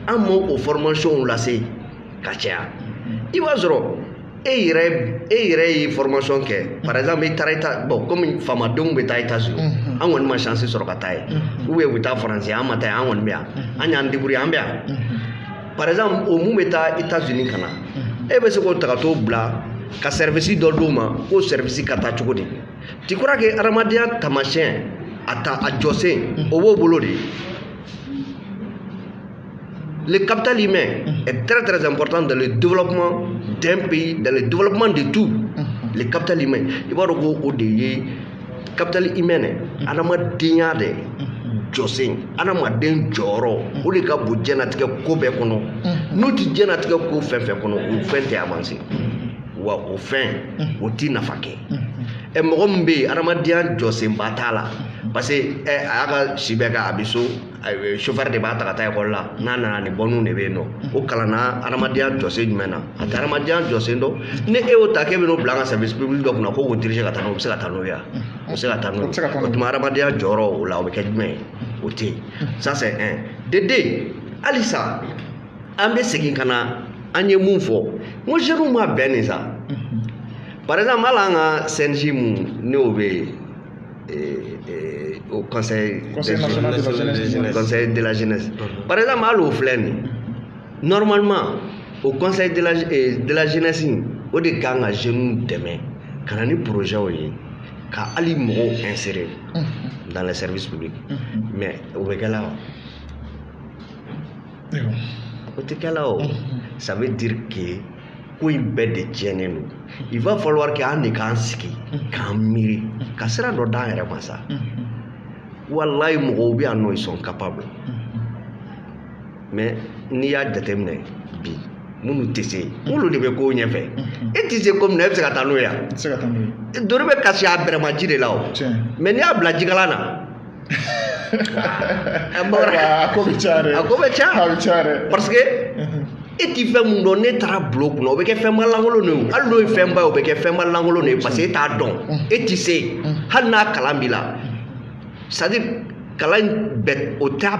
an m'o fɔrɔmasiyɔnw lase ka caya i b'a sɔrɔ e yɛrɛ e yɛrɛ ye fɔrɔmasiyɔn kɛ par exemple i taara i ta bɔn komi faamadenw bɛ taa etazini an kɔni ma sansi sɔrɔ ka taa yen ou bien u bɛ taa faransi an ma taa yen an kɔni bɛ yan an y'an deburiye an bɛ yan par exemple o min bɛ taa etazini ka na e bɛ se k'o ta ka t'o bila ka sɛrivisi dɔ d'o ma k'o sɛrivisi ka taa cogo di tu crois que adamadenya taamasiyɛn a ta a jɔsen o b'o bolo de Le capital humain est très très important dans le développement d'un pays, dans le développement de tout. Le capital humain. I b'a dɔn ko o de ye capital humain dɛ, adamadenya de jɔsen, adamaden jɔyɔrɔ, o de ka bon diɲɛnatigɛ ko bɛɛ kɔnɔ. N'o tɛ diɲɛnatigɛ ko fɛn fɛn kɔnɔ, o fɛn tɛ avancer. Wa o fɛn, o t'i nafa kɛ. ɛ eh, mɔgɔ min bɛ yen adamadenya jɔsenba t'a la parce que ɛ eh, a y'a ka si bɛɛ kɛ a bɛ so eh, sofɛri de b'a ta ka taa ekɔli la n'a nana ni bɔnniw de bɛ yen nɔ o kalanna adamadenya jɔsen jumɛn na a tɛ adamadenya jɔsen dɔn ni e y'o ta k'e bɛ n'o bila an ka service public dɔ kunna k'o k'o dirige ka taa n'o ye o bɛ se ka taa n'o ye wa o bɛ se ka taa n'o ye o tuma adamadenya jɔyɔrɔ o la o bɛ kɛ jumɛn ye o tɛ yen ça c'est un de deux halisa an bɛ segin ka na an ye mun fɔ n ko jeunes ma bɛn nin sa par exemple hali an ka CNJ mun n'o bɛ yen o conseil conseil de la jeunesse par exemple hali o filɛ nin normalement o conseil de la jeunesse o de kan ka jeunes dɛmɛ ka na ni projetw ye ka hali mɔgɔw insérer dans le service public mais o bɛ kɛ la wa o tɛ kɛ la o ça veut dire que ko in bɛɛ de tiɲɛnen don il va falloir que an de k'an sigi k'an miiri ka sira dɔ d'an yɛrɛ ma sa walayi mɔgɔw bɛ yan nɔ ils sont capables mais n'i y'a jateminɛ bi minnu tɛ se olu de bɛ ko ɲɛfɛ e tɛ se ko min na e bɛ se ka taa n'o ye yan ntori bɛ kasi a bɛrɛma ji de la o mais n'i y'a bila jikalan na a bamanan a ko bɛ ca dɛ a ko bɛ ca a bɛ ca dɛ parce que e ti fɛn min dɔn n'e taara bila o kunna o bɛ kɛ fɛnba lankolon de ye hali n'o ye fɛnba ye o bɛ kɛ fɛnba lankolon de ye parce que e t'a dɔn e ti se hali n'a kalan b'i la c'est à dire kalan in bɛ o t'a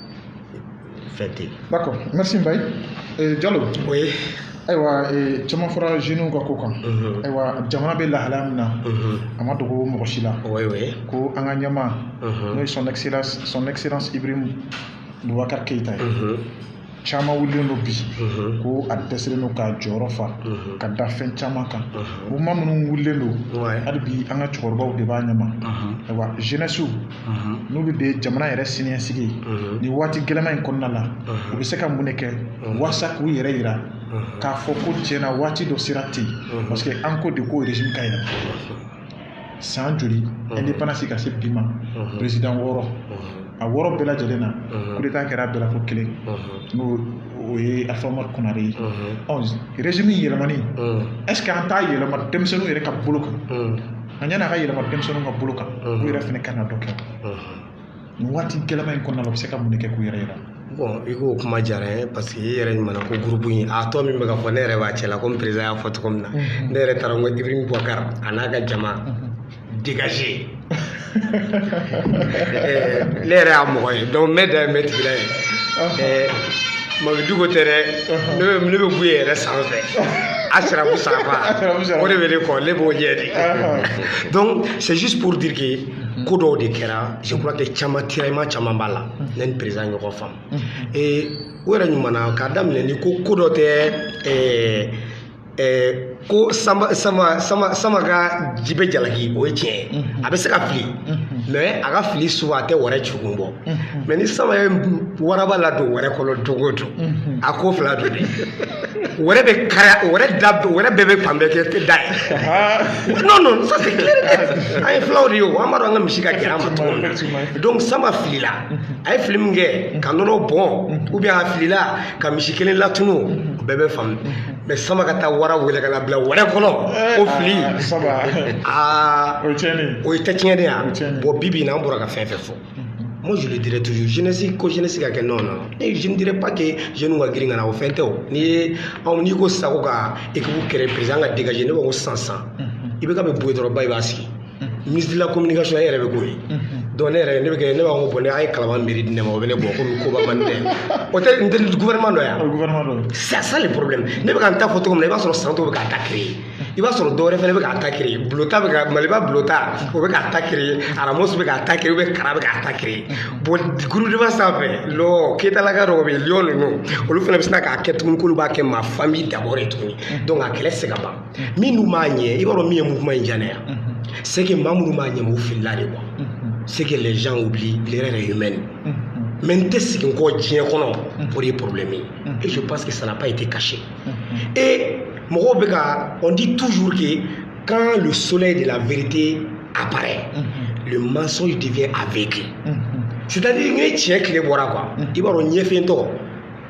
fɛn tɛ yen. d'accord merci Mbaye euh, Diallo. oui. ayiwa euh, caman fɔra jeunes ka ko kan. Mhm. ayiwa jamana bɛ lahalaya min na. Mhm. a ma dogo mɔgɔ si la. oui oui. ko an ka ɲɛmaa. Mhm. n'o ye son excellence Ibrahim Boubacar Keita ye. caman wulilen don bi mhm. ko a dɛsɛlen don k'a jɔyɔrɔ fa mhm. ka da fɛn caman kan mhm. mouvement minnu wulilen don hali bi an ka cɛkɔrɔbaw de b'a ɲɛma ayiwa jeunesse n'olu de ye jamana yɛrɛ siniɲɛsigi ye nin waati gɛlɛma in kɔnɔna la u bɛ se ka mun de kɛ walasa k'u yɛrɛ yira k'a fɔ ko tiɲɛna waati dɔ sera ten parce que an ko de ko régime ka yɛlɛma san joli indépendance ka se bi ma président wɔɔrɔ a wɔɔrɔ bɛɛ lajɛlen na coup d'état kɛra bɛɛ la fo kelen n'o ye Alpha Oumar Konaré ye ɔ régime yɛlɛmani est ce que an t'a yɛlɛma denmisɛnninw yɛrɛ ka bolo kan a ɲɛna a ka yɛlɛma denmisɛnninw ka bolo kan u yɛrɛ fana kan ka dɔ kɛ nin waati gɛlɛma in kɔnɔna la u bɛ se ka mun de kɛ k'u yɛrɛ yira bon i k'o kuma diyara n ye parce que i yɛrɛ ɲɛ b'a la ko gurupu in a tɔgɔ min bɛ ka fɔ ne yɛrɛ b'a cɛ la komi président y'a fɔ cogo min na ne yɛrɛ taara n ko Ibrahim Boubacar a n'a ka jama dégage ne yɛrɛ y'a mɔgɔ ye donc n bɛ da ye n bɛ tigila ye mabiduko tɛ dɛ ne bɛ ne bɛ buye yɛrɛ sanfɛ asirabu sanfa o de bɛ ne kɔ ne b'o ɲɛ de donc c'est juste pour dire que ko dɔw de kɛra je crois que caman tiraillement caman b'a la ne ni président ɲɔgɔn faamu ee o yɛrɛ ɲuman na k'a daminɛ ni ko ko dɔ tɛ ɛɛ ko samba samba samba samba ka ji bɛ jalaki o ye tiɲɛ ye a bɛ se ka fili mais a ka fili souvent a tɛ wɛrɛ jugun bɔ mais ni samba ye waraba ladon wɛrɛ kɔnɔ don o don a ko fila don dɛ wɛrɛ bɛ kari wɛrɛ da wɛrɛ bɛɛ bɛ fan bɛɛ kɛ da ye non non ça c'est clair an ye filaw de ye o an b'a dɔn an ka misi ka gɛlɛn an ma cogo min na donc samba filila a ye fili min kɛ ka nɔnɔ bɔn ou bien a filila ka misi kelen latunu bɛɛ bɛ faamu mais samba ka taa wara wele ka na bila wɛrɛ kɔnɔ eh, o fili ah, samba aa o ye tiɲɛni o ye tɛ tiɲɛni ye a bon bi bi na an bɔra ka fɛn fɛn fɔ mm-hmm. moi je le dirai toujours jeunesse ko jeunesse ka kɛ non non ne je ne dirais pas que jeunes ka girin ka na o fɛn tɛ o n'i ye anw n'i ko sago ka équipe créer président ka dégager ne b'a fɔ ko san san mm-hmm. IBK bɛ bɔ yen dɔrɔn bayi b'a sigi ministre de la communication e yɛrɛ bɛ k'o ye donc ne yɛrɛ ne bɛ kɛ ne b'a fɔ ko bon ne a ye kalaban miiri di ne ma o bɛ ne bɔ komi koba man di ne ye o tɛ n tɛ gouvernement dɔ ye wa gouvernement dɔ ye c'est ça le problème ne bɛ ka n ta fɔ cogo min na i b'a sɔrɔ san dɔw bɛ k'a ta créer i b'a sɔrɔ dɔwɛrɛ fɛnɛ bɛ k'a ta créer bulota bɛ ka maliba bulota o bɛ k'a ta créer aramos bɛ k'a ta créer ou bien kara bɛ k'a ta créer bon groupe de base sanfɛ lɔ keyitalaka dɔw bɛ yen lion ninnu olu fɛnɛ bɛ sina k'a kɛ tuguni k'olu b'a kɛ ma famille d'abord ye tuguni donc a kɛlɛ tɛ se ka ban min dun b'a ɲɛ i b'a dɔn min ye mouvement in diya ne ya c'est que maa minnu b'a ɲɛma u filila de quoi c'est que les gens oublient l'erreur est humaine mais n tɛ segin kɔ diɲɛ kɔnɔ o de ye problème ye et je pense que ça n'a pas été caché et mɔgɔw bɛ ka on dit toujours que quand le soleil de la vérité apparaît le mensonge devient aveugle c'est à dire ni tiɲɛ tile bɔra quoi i b'a dɔn ɲɛfiyentɔ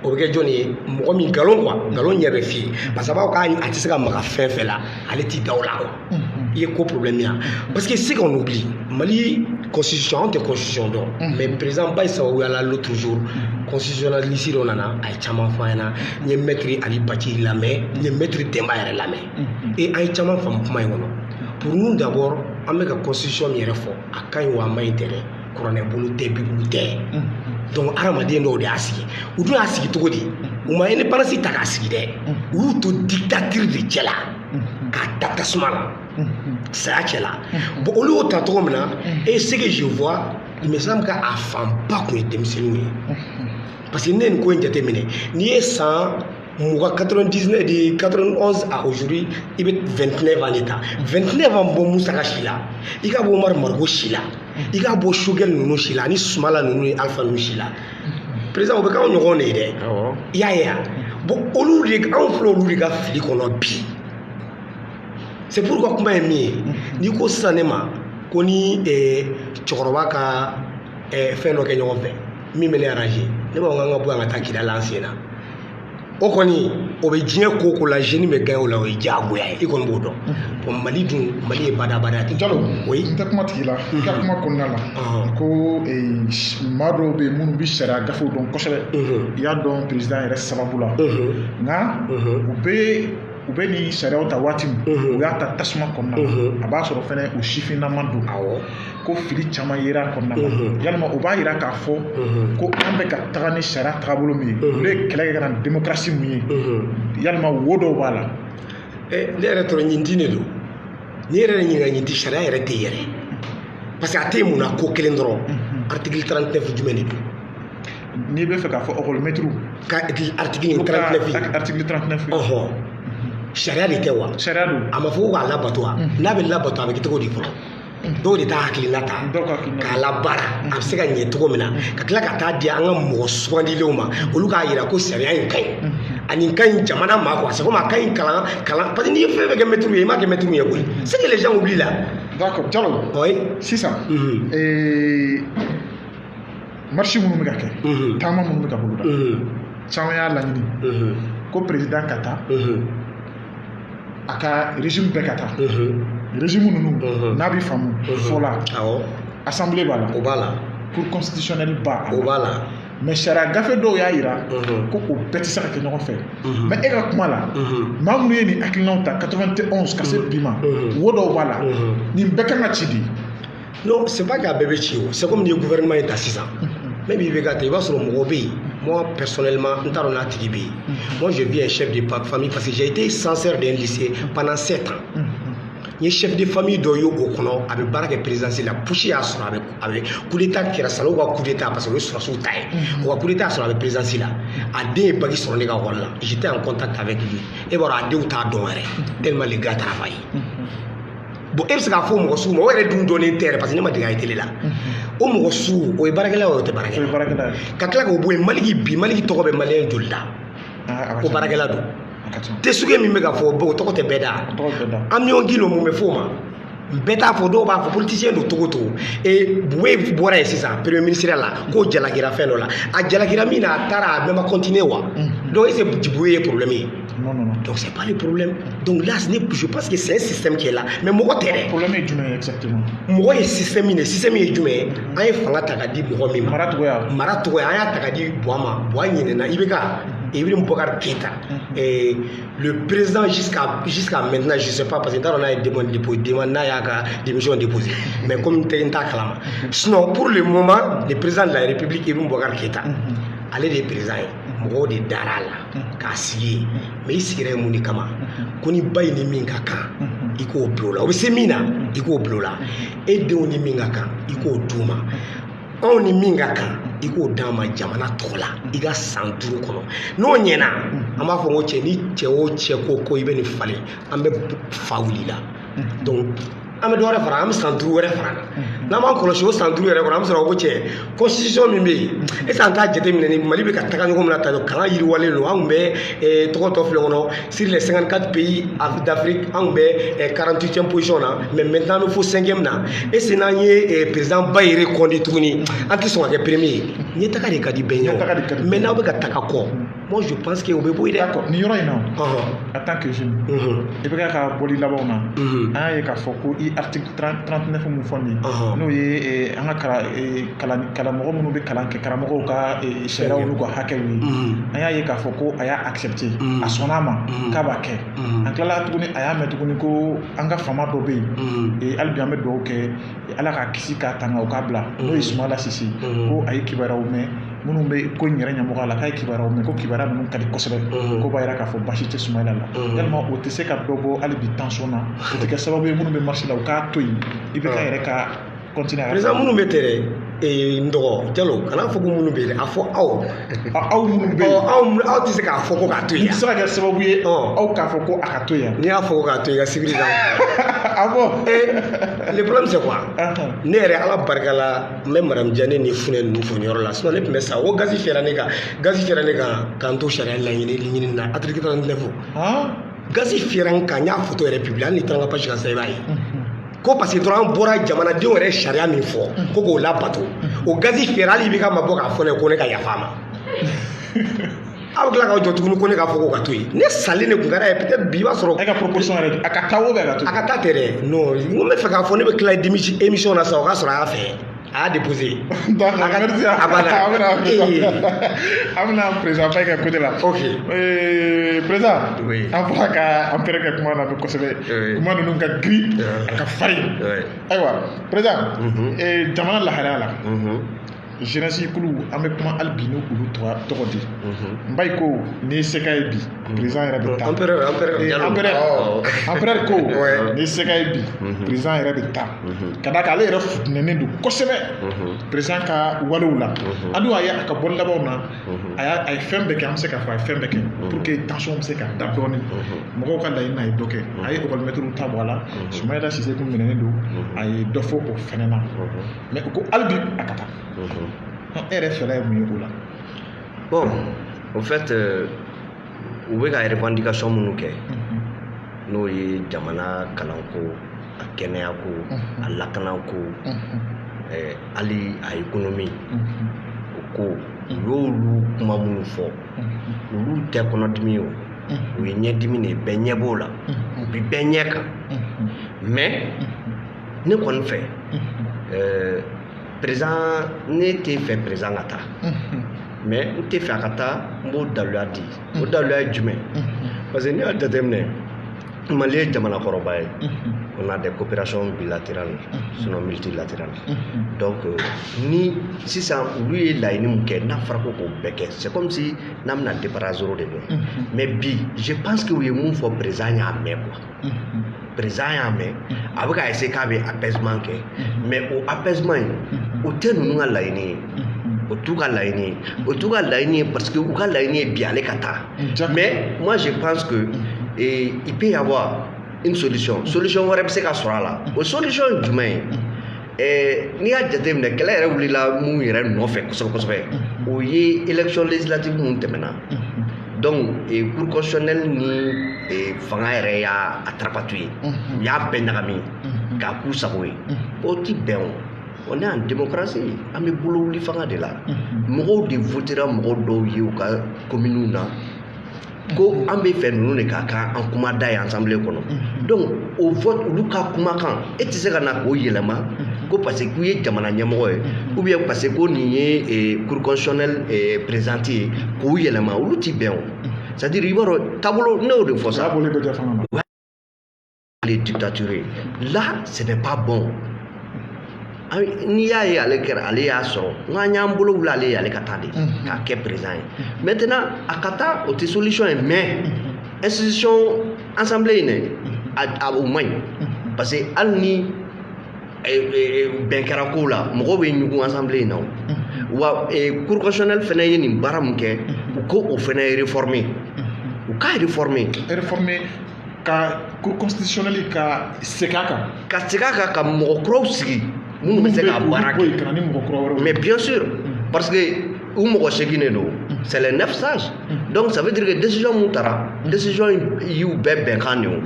o bɛ kɛ jɔni ye mɔgɔ min nkalon quoi nkalon ɲɛ bɛ fiyen parce que a b'a fɔ k'a a tɛ se ka maga fɛn fɛn la ale t'i da o la quoi i ye ko problème ya parce que ce qu'on oublie mali constitution anw tɛ constitution dɔn mais président bayi sababuya la l'autre jour constitutionnaliste dɔ nana a ye caman fɔ an ɲɛna n ye maître ali bacili lamɛn n ye maître denba yɛrɛ lamɛn et an ye caman faamu kuma in kɔnɔ pour nous d'abord an bɛ ka constitution min yɛrɛ fɔ a ka ɲi wa a man ɲi tɛ dɛ kuranɛ bolo tɛ bibulu tɛ donc hadamaden dɔw de y'a sigi u dun y'a sigi cogo di u ma indépendance ta k'a sigi dɛ u y'u to dictature de cɛ la k'a ta tasuma la saya cɛ la bon olu y'o ta cogo min na et ce que je vois il me semble k'a fanba tun ye denmisɛnninw ye parce que ne ye nin ko in jateminɛ n'i ye san mugan quatre-vingt-dix-neuf de quatre-vingt-onze à aujourd'hui i bɛ vingt-neuf ans de ta vingt-neuf ans bɔ musaka si la i ka bɔ Umar Mariko si la i ka bɔ Sogɛl ninnu si la ani sumala ninnu ni alifa ninnu si la président o bɛ k'anw ɲɔgɔn de ye dɛ awɔ i y'a ye bon olu de anw filɛ olu de ka fili kɔnɔ bi c'est pourquoi kuma ye min ye n'i ko sisan ne ma ko ni eh, cɛkɔrɔba ka eh, fɛn dɔ kɛ ɲɔgɔn fɛ min bɛ ne arranger ne b'a fɔ k'an ka bɔ yan ka taa Kidal an sen na o kɔni o bɛ diɲɛ ko ko la jeune bɛ gagner o la o ye diyagoya ye i kɔni b'o dɔn bon mali dun mali ye badabada ye Jalo oui n tɛ kuma tig'i la i ka kuma kɔnɔna la ko maa dɔw bɛ yen minnu bɛ sariya gafew dɔn kosɛbɛ i y'a dɔn président yɛrɛ sababu la nka u bɛ u bɛ nin sariyaw ta waati min u y'a ta tasuma kɔnɔna la a b'a sɔrɔ fana u sifinnama don ko fili caman yera a kɔnɔna na mhm. yalima o b'a yira k'a fɔ mhm. ko an bɛ ka taga ni sariya taabolo min ye mhm. olu ye kɛlɛ kɛ ka na ni demokarasi min ye yalima wo dɔw b'a la eh, ne yɛrɛ tɔrɔ ɲin tin de don n'i yɛrɛ ɲininka ɲin ti sariya yɛrɛ tɛ yɛrɛ parce que a tɛ mun na ko kelen dɔrɔn article 39 jumɛn de don n'i bɛ fɛ k'a fɔ ekɔlimɛtiriw ka article 39 article 39 ɔhɔn sariya de tɛ wa sariya don a ma fɔ ko k'a labato wa n'a bɛ labato a bɛ kɛ cogo di fɔlɔ dɔw de t'a hakilina ta k'a labaara a bɛ se ka ɲɛ cogo min na ka tila ka taa di an ka mɔgɔ sugandilenw ma olu k'a jira ko sariya in ka ɲi ani ka ɲi jamana ma quoi c'est comme a ka ɲi kalan kalan parce que n'i ye fɛn fɛn kɛ mɛtiriw ye i m'a kɛ mɛtiriw ye koyi c'est que les gens oublient là d'accord Jalo oui sisan ee marche minnu bɛ ka kɛ taama minnu bɛ ka boloda caman y'a laɲini ko président ka taa a ka régime bɛɛ ka taa régime ninnu n'a bɛ faamu fɔ la assemblée b'a la o b'a la cour constitutionnelle b'a la o b'a la mais sariya gafe dɔw y'a yira ko o bɛɛ tɛ se ka kɛ ɲɔgɔn fɛ mais e ka kuma la maa minnu ye nin hakilinaw ta 91 ka se bi ma wo dɔw b'a la nin bɛɛ kan ka ci di non c'est pas k'a bɛɛ bɛ ci o c'est comme n'i ye gouvernement in ta sisan même i bɛ ka ta i b'a sɔrɔ mɔgɔ bɛ yen moi personnellement n t'a dɔn n'a tigi bɛ yen moi j'ai vu un chef de pa- famille parce que j'ai été censeur d'un lycée pendant sept ans n ye chef de famille dɔ ye o kɔnɔ a bɛ baara kɛ présidence la putsch y'a sɔrɔ a bɛ a bɛ coup d'état kɛra Sanɔgɔ ka coup d'état parce que o ye sɔrɔsiw ta ye o ka coup d'état y'a sɔrɔ a bɛ présidence la a den ye bac sɔrɔ ne ka wari la j'étais en contact avec lui e b'a dɔn a denw t'a dɔn yɛrɛ tellement le gars travaille bon e bɛ se k'a fɔ mɔgɔ sugu ma o yɛrɛ dun dɔnnen tɛ yɛrɛ parce que ne ma dege a ye tele la o mɔgɔ sugu o ye baarakɛla ye o tɛ baarakɛla ka tila k'o bɔ yen maliki bi maliki tɔgɔ bɛ maliyɛn joli da ko baarakɛla don tesuge min bɛ ka fɔ o tɔgɔ tɛ bɛɛ da amiyɔn gindo mun bɛ f'o ma bɛɛ t'a fɔ dɔw b'a fɔ politisiyɛn don tɔgɔ tɔgɔ ee bubɛyi bɔra yen sisan premier ministre la k'o jalakira fɛn dɔ la a jalakira min na a taara a bɛɛ ma kɔntiniye wa donc est ce que bubɛyi ye problème ye Non, non, non. Donc c'est pas le problème. Donc là, ce n'est plus, je pense que c'est un système qui est là. Mais mɔgɔ tɛ dɛ. Problème ye jumɛn ye exactement? Mɔgɔ ye système min ye, système ye jumɛn ye? An ye fanga ta ka di mɔgɔ min ma. Maratigiya. Maratigiya, an y'a ta ka di Buwa ma. Buwa ɲinɛna IBK, Ibrahim Boubacar Keita. Et le président jusqu'à jusqu'à maintenant, je sais pas parce que n t'a dɔn n'a ye demande déposée, demande n'a y'a ka démission déposée. Mais comme n tɛ n t'a kalama. Sinon pour le moment, le président de la République Ibrahim Boubacar Keita, ale de ye président ye. mɔgɔw de dara a la k'a sigi yen mais i sigira yen mun de kama ko ni ba in ni min ka kan i k'o bila o la o bɛ se min na i k'o bila o la e denw ni min ka kan i k'o d'u ma anw ni min ka kan i k'o d'an ma jamana tɔgɔ la i ka san duuru kɔnɔ n'o ɲɛna an b'a fɔ ko cɛ ni cɛ o cɛ ko ko i bɛ nin falen an bɛ fa wuli la donc an bɛ dɔ wɛrɛ fara an bɛ san duuru wɛrɛ fara a kan n'an m'an kɔlɔsi o san duuru yɛrɛ kɔnɔ an bɛ sɔrɔ ko cɛ constitution min bɛ yen est ce que an t'a jateminɛ ni mali bɛ ka taga ɲɔgɔn min na tan kalan yiriwalen don an tun bɛ eh, tɔgɔ tɔ filɛ kɔnɔ sur les 54 pays af- d'afrique an tun bɛ eh, 48e position na mais maintenant an bɛ fo 5e na est ce que n'an ye eh, président ba in reconduit tuguni an tɛ sɔn ka kɛ premier ye ɲɛtaga de ka di bɛɛ ye Ɲɛtaga de ka di o bɛɛ mais n'aw bɛ ka taga kɔ Moi, je pense que o bɛ bɔ yen dɛ. D'accord nin yɔrɔ in na. Ɔhɔn. En tant que jeune. Unhun. IBK ka bɔli labanw na. Unhun. An y'a ye k'a fɔ ko i article 30 39 min fɔ nin ye. Ɔhɔn. N'o ye eh, an ka kala eh, kalan kalamɔgɔ minnu bɛ kalan kɛ karamɔgɔw ka eh, sariyaw n'u ka hakɛw ye. Unhun. An y'a ye k'a fɔ ko a y'a accepté. Unhun. A sɔnna a ma. Unhun. K'a b'a kɛ. Unhun. An tilala tuguni an y'a mɛn tuguni ko an ka faama dɔ bɛ yen. Unhun. Eh, hali bi an bɛ dugawu kɛ Ala k'a kisi k'a tanga u k'a bila n'o ye Sumayila Sise ko a ye kibaruyaw mɛn minnu bɛ ko in yɛrɛ ɲɛmɔgɔya la k'a ye kibaruyaw mɛn ko kibaruya ninnu ka di kosɛbɛ k'o b'a jira k'a fɔ basi tɛ Sumayila la yalima o tɛ se ka dɔ bɔ hali bi tension na o tɛ kɛ sababu ye minnu bɛ marche la u k'a to yen IBK yɛrɛ ka continuer minnu bɛ tɛ ee n dɔgɔ jalo kana fɔ ko minnu bɛ yen a fɔ aw aw minnu bɛ yen aw aw tɛ se k'a fɔ ko k'a to yen a bɛ se ka kɛ sababu ye aw k'a fɔ ko a ka to yen n'i y'a fɔ ko k'a to yen ka sibiri da ah bon ee le problème c'est quoi ne yɛrɛ ala barika la n bɛ madamu jane ni funɛ ninnu fo nin yɔrɔ la sinon ne tun bɛ sa o gazi fiyɛra ne kan gazi fiyɛra ne kan k'an to sariya laɲini ɲini na article 39 gazi fiyɛra n kan n y'a foto yɛrɛ publier hali n'i taara n ka page kan sisan i b'a ye ko parce que dɔrɔn an bɔra jamanadenw yɛrɛ sariya min fɔ ko k'o labato o gazi fiyɛra hali IBK ma bɔ k'a fɔ ne ko ne ka yafa a ma aw tila k'aw jɔ tuguni ko ne k'a fɔ ko ka to yen ne salen de kun ka d'a ye peut-être bi i b'a sɔrɔ e ka proposition yɛrɛ a ka taa o bɛ a ka to a ka taa tɛ dɛ non n ko n bɛ fɛ k'a fɔ ne bɛ tila émission na sisan o k'a sɔrɔ a y'a fɛ a y'a déposé d'accord merci a banna an bɛna an bɛna président Faye ka côté la ok président an fɔra ka Empereur kɛ kuma na bi kosɛbɛ kuma ninnu ka girin a ka farin ayiwa président jamana lahalaya la jeunesse kulu an bɛ kuma hali bi n'o olu tɔgɔ di Mbaye ko n'i ye se k'a ye bi président yɛrɛ bɛ taa Empereur ko n'i ye se k'a ye bi président yɛrɛ bɛ taa ka d'a kan ale yɛrɛ futinɛnen don kosɛbɛ président ka walew la a dun a ye a ka bɔli labanw na a y'a a ye fɛn bɛɛ kɛ an bɛ se k'a fɔ a ye fɛn bɛɛ kɛ pour que tension bɛ se ka da dɔɔnin mɔgɔw ka laɲini na a ye dɔ kɛ a ye ekɔlimɛtiriw ta bɔ a la Soumaïla Cissé kun minɛnen don a ye dɔ fɔ o fɛnɛ na mais ko hali bi a ka taa e yɛrɛ fɛla ye mun ye o la Bon, au fait, euh, u bɛ ka revendication minnu kɛ n'o ye jamana kalanko a kɛnɛyako a lakanako eh, hali a économie o ko u y'olu kuma minnu fɔ olu tɛ kɔnɔdimi ye o u ye ɲɛdimi de ye bɛɛ ɲɛ b'o la u bi bɛɛ ɲɛ kan mais ne kɔni fɛ eh, président ne tɛ fɛ président ka taa mais n tɛ fɛ a ka taa n b'o daluya di o daluya ye jumɛn parce que n'i y'a jateminɛ Mali ye jamana kɔrɔba ye on a des coopérations bilatérales sinon multilatérales donc euh, ni sisan olu ye laɲini min kɛ n'a fɔra ko k'o bɛɛ kɛ c'est comme si n'an bɛna départ à zéro de kɛ mais bi je pense que u ye mun fɔ président y'a mɛn quoi président y'a mɛn a bɛ ka essayer k'a bɛ apaisement kɛ mais o apaisement in o tɛ ninnu ka laɲini ye o t'u ka laɲini ye o t'u ka laɲini ye parce que u ka laɲini ye bi ale ka taa mais moi je pense que eh, il peut y avoir une solution solution wɛrɛ bɛ se ka sɔrɔ a la o solution ye jumɛn ye ɛɛ n'i y'a jateminɛ kɛlɛ yɛrɛ wulila mun yɛrɛ nɔfɛ kosɛbɛ kosɛbɛ o ye élection législative min tɛmɛna donc eh, cour constitutionnelle ni eh, fanga yɛrɛ y'a a tripatouillé u y'a bɛɛ ɲagami k'a k'u sago ye o ti bɛn o on est en démocratie an bɛ bolo wuli fanga de la mɔgɔw de votera mɔgɔ dɔw ye u ka kominiw na ko an bɛ fɛ ninnu de ka kɛ an kuma da ye assemblée kɔnɔ donc o vote olu ka kumakan e tɛ se ka na k'o yɛlɛma ko parce que k'u ye jamana ɲɛmɔgɔ ye ou bien parce que ko nin ye eh, cour constitutionnelle eh, présidente ye k'o yɛlɛma olu ti bɛn o c'est à dire i b'a dɔn taabolo ne y'o de fɔ sa. les dictatures là ce n'est pas bon n'i y'a ye ale kɛra ale y'a sɔrɔ n k'an y'an bolo wuli ale ye ale ka taa de mhm. k'a kɛ président ye mhm. maintenant a ka taa o tɛ solution ye mais mhm. institution assemblée in dɛ a o man ɲi parce que hali ni eh, eh, bɛn kɛra kow la mɔgɔw bɛ ɲugun assemblée in na o wa eh, cour constitutionnelle fana ye nin baara min kɛ u ko o fana réformer u k'a réformer réformer ka cour constitutionnelle ka segin a kan ka segin a kan ka mɔgɔ kuraw sigi minnu bɛ se ka baara kɛ mais bien sûr mm. parce que u mɔgɔ segin de don mm. c'est les neuf sages mm. donc ça veut dire que décision min tara décision y'u bɛɛ bɛnkan de ye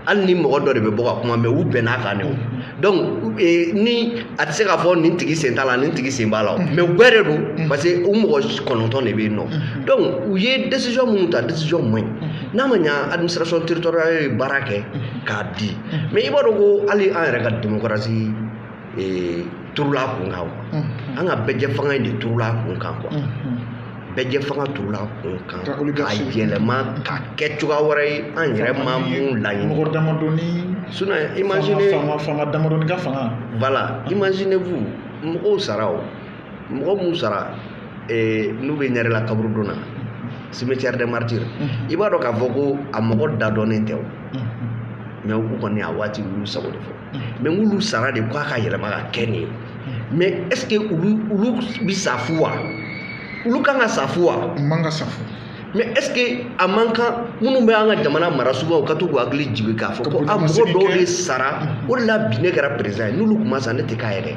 hali ni mɔgɔ dɔ de bɛ bɔ ka kuma mais u bɛnna a kan de donc eh, ni a tɛ se k'a fɔ nin tigi sen t'a la nin tigi sen b'a la mais u bɛɛ de don parce que u mɔgɔ kɔnɔntɔn de bɛ yen nɔ donc u ye décision minnu ta décision man ɲi n'a ma ɲa administration territoriale ye baara kɛ k'a di mais i b'a dɔn ko hali an yɛrɛ ka demokarasi turula a kun kan an ka bɛɛ jɛ fanga in de turula a kun kan quoi bɛɛ jɛ fanga turula a kun kan ka yɛlɛma ka kɛ cogoya wɛrɛ ye an yɛrɛ ma min laɲini mɔgɔ damadɔni sinon imaginez fanga damadɔni ka fanga voilà imaginez vous mɔgɔw sara o mɔgɔ minnu sara eh, n'u bɛ ɲarela kaburudon na cimetière des martyrs i b'a dɔn k'a fɔ ko a mɔgɔ da dɔnnen tɛ o mais u kɔni a waati u y'u sago de fɔ mais n'olu sara de k'a ka yɛlɛma ka kɛ nin ye mais est ce que olu olu bɛ sa fu wa olu kan ka sa fu wa u man ka sa fu mais est ce que a man kan minnu bɛ an ka jamana mara sugubaw u ka to k'u hakili jigin k'a fɔ ko a mɔgɔ dɔw de sara o de la bi ne kɛra président ye n'olu tun ma sa ne tɛ k'a yɛrɛ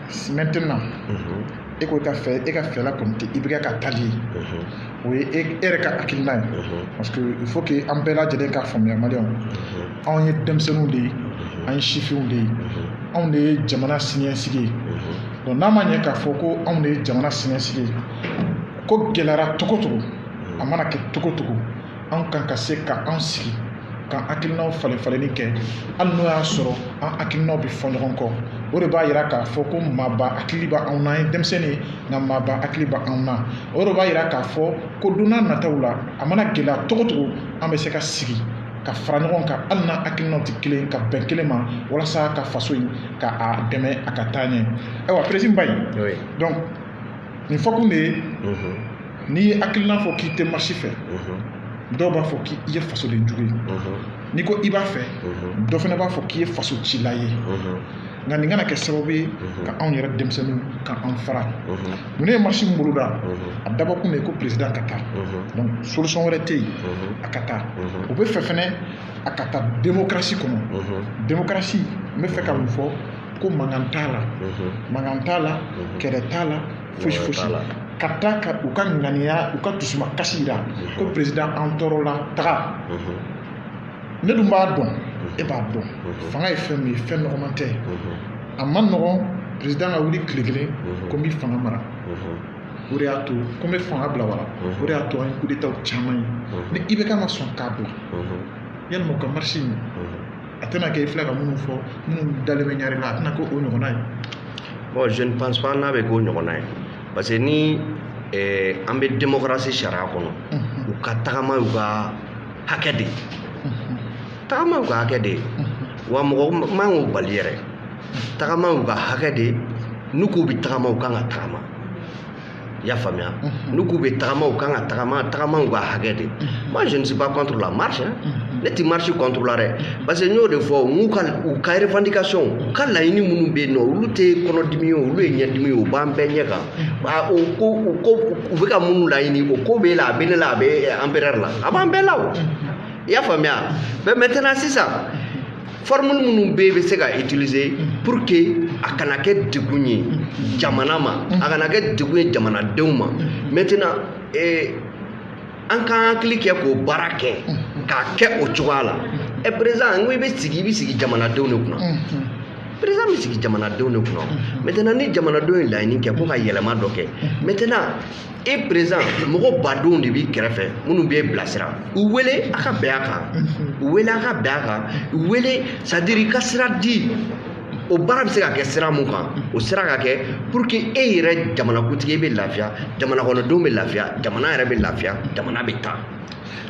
maintenant e ko ka fɛ e ka fɛla kɔni tɛ i bɛ ka tali o ye e yɛrɛ ka hakilina ye parce que il faut que an bɛɛ lajɛlen k'a faamuya maliyɛnw anw ye denmisɛnninw de ye an ye sifinw de ye anw de ye jamana siniɲɛsigi ye donc n'a ma ɲɛ k'a fɔ ko anw de ye jamana siniɲɛsigi ye ko gɛlɛyara cogo cogo a mana kɛ cogo cogo an kan ka se ka an sigi ka hakilinaw falen falenni kɛ hali n'o y'a sɔrɔ an hakilinaw bɛ fɔ ɲɔgɔn kɔ o de b'a yira k'a fɔ ko maaba hakili bɛ anw na an ye denmisɛnnin ye nka maaba hakili bɛ anw na o de b'a yira k'a fɔ ko don nataw la a mana gɛlɛya cogo cogo an bɛ se ka sigi ka fara ɲɔgɔn kan hali n'an hakilinaw tɛ kelen ka bɛn kelen ma walasa ka faso in ka a dɛmɛ a ka taa ɲɛ ayiwa président Baye nin fɔkun de ye n'i ye hakilina fɔ k'i tɛ marisi fɛ dɔw b'a fɔ k'i ye fasoden jugu ye n'i ko i b'a fɛ dɔ fana b'a fɔ k'i ye faso cila ye nka nin kana kɛ sababu ye ka anw yɛrɛ denmisɛnninw ka an fara mun ne ye marisi min boloda a dabɔkun de ye ko perezidan ka taa donc solution wɛrɛ tɛ yen a ka taa u bɛ fɛ fɛnɛ a ka taa demokarasi kɔnɔ demokarasi n bɛ fɛ ka mun fɔ ko mankan t'a la mankan t'a la kɛlɛ t'a la fosi fosi ka taa ka u ka ŋaniya u ka dusuma kasi jira ko perezidan an tɔɔrɔla taga ne dun b'a dɔn e b'a dɔn fanga ye fɛn min ye fɛn nɔgɔman tɛ a man nɔgɔn perezidan ka wuli tile kelen ko n bɛ fanga mara o de y'a to ko n bɛ fanga bila wala o de y'a to an ye kudetaw caman ye ni IBK ma sɔn k'a bila yalima u ka marisi in a tɛna kɛ i filɛ ka minnu fɔ minnu dalen bɛ ɲari la a tɛna kɛ o ɲɔgɔnna ye bon je ne pense pas n'a bɛ k'o ɲɔgɔnna ye parce que ni eh, an bɛ démocratie sariya kɔnɔ u ka tagama y'u ka hakɛ de ye tagama y'u ka hakɛ de ye wa mɔgɔ man k'o bali yɛrɛ tagama y'u ka hakɛ de ye n'u k'u bɛ tagama u kan ka tagama i y'a faamuya n'u k'u bɛ tagama u kan ka tagama tagama u ka hakɛ de moi je ne suis pas contre la marche hein. ne tɛ marche contre la dɛ parce que n y'o de fɔ n k'u ka u ka revendication u ka laɲini minnu bɛ yen nɔ olu tɛ kɔnɔdimi ye olu ye ɲɛdimi ye u b'an bɛɛ ɲɛ kan a o ko o ko u bɛ ka minnu laɲini o ko b'e la a bɛ ne la a bɛ empereur la a b'an bɛɛ la o i y'a faamuya mais maintenant sisan formule minnu bɛ yen bɛ se ka utiliser pour que a kana kɛ degun ye jamana ma a kana kɛ degun ye jamanadenw ma maintenant eh, an k'an hakili kɛ k'o baara kɛ k'a kɛ o cogoya la ɛ président n ko i bɛ sigi i bɛ sigi jamanadenw de kunna président bɛ sigi jamanadenw de kunna maintenant ni jamanadenw ye laɲini kɛ ko ka yɛlɛma dɔ kɛ maintenant e président mɔgɔ badenw de b'i kɛrɛfɛ minnu b'e bilasira u wele a ka bɛn a kan u wele a ka bɛn a kan u wele c'est-à-dire i ka sira di o baara bɛ se ka kɛ sira mun kan o sira ka kɛ pour que e yɛrɛ jamanakuntigi bɛ lafiya jamanakɔnɔdenw bɛ lafiya jamana yɛrɛ bɛ lafiya jamana bɛ taa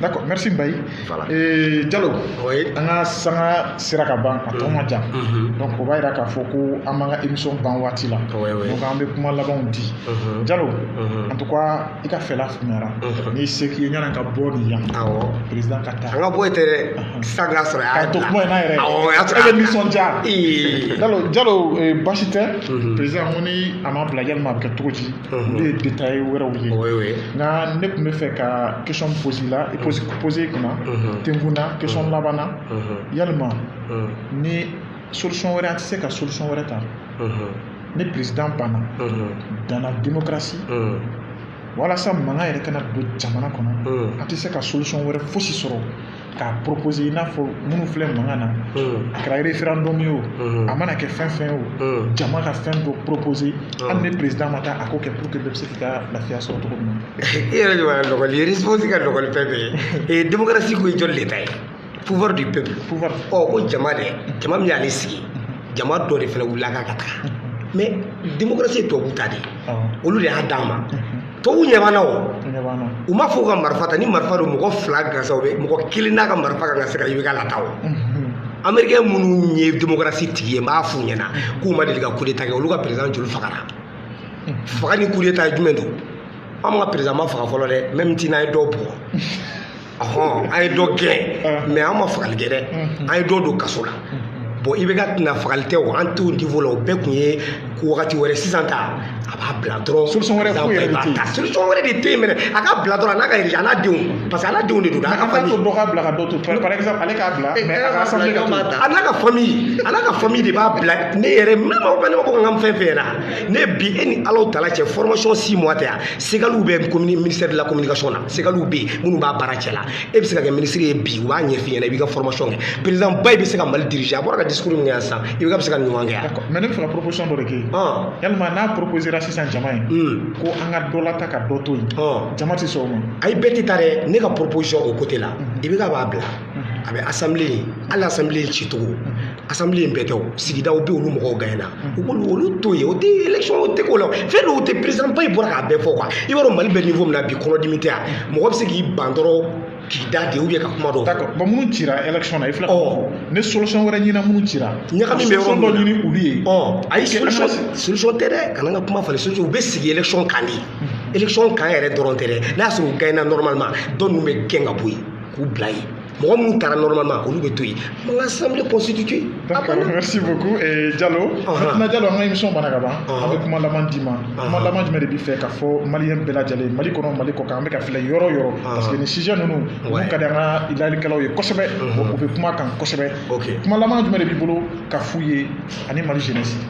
D'accord, merci Mbaye. Voilà. Et Diallo, oui. an ka sanga sera ka ban a tɔ ma jan. Mhm. Donc o b'a jira k'a fɔ ko an b'an ka émission ban waati la. Oui, oui. Donc an bɛ kuma labanw di. Mhm. Diallo, mhm. en tout cas i ka fɛla faamuyara. N'i se k'i ye ɲana ka bɔ nin yan. Awɔ. Président ka taa. An ka bɔ yen tɛ dɛ. Sisan k'a sɔrɔ a y'a to kuma in na yɛrɛ. Awɔ, o y'a sɔrɔ. E bɛ nisɔndiya. Diallo, Diallo basi tɛ. Président ko ni a ma bila yalima a bɛ kɛ cogo di? Olu ye detaye wɛrɛw ye oui oui nka ne tun bɛ fɛ ka question pose i la i pose pose i kunna tenkun na question laban na yalima ni solution wɛrɛ an tɛ se ka solution wɛrɛ ta ni président banna dans la démocratie walasa mankan yɛrɛ kana don jamana kɔnɔ an tɛ se ka solution wɛrɛ fosi sɔrɔ k'a poropoze i n'a fɔ minnu filɛ mankan na a kɛra referendum ye o a mana kɛ fɛn fɛn ye o jama ka fɛn dɔ poropoze hali ni perezidan ma taa a k'o kɛ pour que bɛɛ bɛ se k'i ka lafiya sɔrɔ cogo min na i yɛrɛ de b'a lɔgɔli ye responsable ka lɔgɔli fɛn bɛɛ ye démocratie ko ye jɔn de ta ye pouvoir du peuple pouvoir o ko jama dɛ jama min y'ale sigi jama dɔ de fana wulila k'a ka taga mais démocratie ye tubabuw ta de ye olu de y'a d'an ma Tubabuw ɲɛ b'an na o, u ɲɛ b'an na, u m'a fɔ ka marifa ta ni marifa don mɔgɔ fila gansan u bɛ mɔgɔ kelen n'a ka marifa kan ka se ka IBK lata o, unhun, Amerikɛn minnu ye demokarasi tigi ye n b'a f'u ɲɛna k'u ma deli ka kudeta kɛ olu ka perezidan joli fagara faga ni kudeta jumɛn don anw ka perezidan ma faga fɔlɔ dɛ même si n'an ye dɔ bugɔ Ɔhɔn an ye dɔ gɛn mais an ma fagali kɛ dɛ an ye dɔ don kaso la bon IBK ta na fagali tɛ o an t'o niveau la o bɛɛ tun ye ko wagati wɛrɛ sisan ta a b'a bila dɔrɔn solution wɛrɛ foyi yɛrɛ de tɛ yen solution wɛrɛ de tɛ yen mɛnɛ a k'a bila dɔrɔn a n'a ka a n'a denw parce que a n'a denw de don a ka famille dɔ k'a bila ka dɔ to par exemple ale k'a bila mais a ka famille ka to a n'a ka famille a n'a ka famille de b'a bila ne yɛrɛ ne ma ne ma ko n ka fɛn fɛn ɲɛna ne bi e ni Alahu Taala cɛ formation six mois tɛ yan segaliw bɛ commune ministère de la communication na segaliw bɛ yen minnu b'a baara cɛla e bɛ se ka kɛ minisiri ye bi u b'a ɲɛf'i ɲɛna i b'i ka formation kɛ président ba i bɛ se ka Mali diriger a bɔra ka discours min kɛ yan sisan IBK bɛ se ka ɲuman kɛ yan. d'accord mais ne bɛ fɛ ka proposition dɔ de kɛ yalima n'a proposera sisan jama ye. ko an ka dɔ lata ka dɔ to yen. jama tɛ sɔn o ma. ayi bɛɛ tɛ taa dɛ ne ka proposition o côté la IBK b'a bila. a bɛ asanbile hali asanbile cicogo asanbile bɛɛ tɛ o sigidaw bɛ olu mɔgɔw gaɲɛna u k'olu olu to yen o tɛ election o tɛ k'o la fɛn dɔw tɛ president ba in bɔra k'a bɛɛ fɔ quoi i b'a dɔn Mali bɛ niveau min na bi kɔnɔdimi tɛ yan mɔgɔ bɛ se k'i ban dɔrɔn k'i da de ka kuma dɔw d'accord bon minnu cira election na i filɛ oh. ni solution wɛrɛ ɲinina minnu cira ɲagami bɛ yɔrɔ dɔ ɲini olu ye oh. ayi solution solution tɛ dɛ kana n ka kuma falen solution u bɛ sigi election kan de election kan yɛrɛ dɔrɔn tɛ dɛ n'a sɔrɔ u gagnera normalement tɔ ninnu bɛ gɛn ka bɔ yen k'u bila yen mɔgɔ minnu taara normalement olu bɛ to yen an ka assemblée constituée a banna merci beaucoup eh, Jalo maintenant Jalo an ka émission banna ka ban an bɛ kuma laban d'i ma kuma laban jumɛn de b'i fɛ k'a fɔ maliyɛn bɛɛ lajɛlen Mali kɔnɔ Mali kɔkan an bɛ ka filɛ yɔrɔ yɔrɔ parce que nin sujet ninnu olu ka di an ka lajɛlikɛlaw ye kosɛbɛ u bɛ kuma kan kosɛbɛ kuma laban jumɛn de b'i bolo ka f'u ye ani Mali jeunesse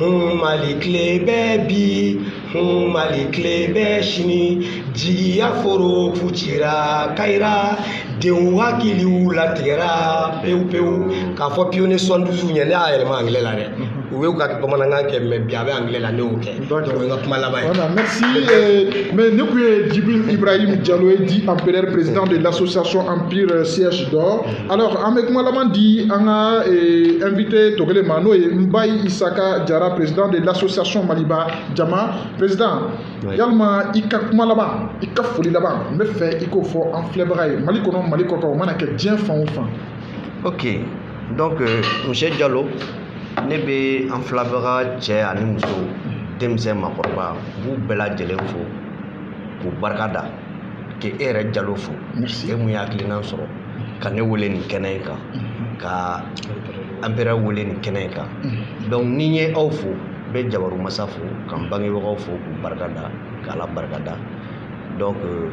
hun mali tile bɛ bi hun mali tile bɛ sini jigiya foro funtira kayira denw hakiliw latigɛra pewu pewu k'a fɔ pionnier soixante-douze ɲɛ ne y'a yɛlɛma angilɛ la dɛ u y'u ka bamanankan kɛ mais bi a bɛ angilɛ la ne y'o kɛ donc o ye n ka kuma laban ye Voilà, merci. euh, mais nin kun ye Djibril Ibrahim Diallo ye, dit empereur président de l'association Empire Siège d'Or. Alors, an bɛ kuma laban di an ka eh, invité tɔ kelen ma n'o ye Mbaye Isaka Jara président de l'association Maliba Jama président yalima i ka kuma laban i ka foli laban n bɛ fɛ i k'o fɔ an filɛbaga ye Mali kɔnɔ Mali kɔ kan o mana kɛ diɲɛ fan o fan. Ok donc euh, monsieur Jalo ne bɛ an filɛbaga cɛ ani muso denmisɛn makɔrɔba n b'u bɛɛ lajɛlen fo k'u barika da k'e yɛrɛ Jalo fo e mun ye hakilinan sɔrɔ. ka ne wele nin kɛnɛ in kan ka empereur wele nin kɛnɛ in kan donc ni n ye aw fo n bɛ jabaru masa fo ka n bangebagaw fo k'u barika da k'ala barika da donc euh,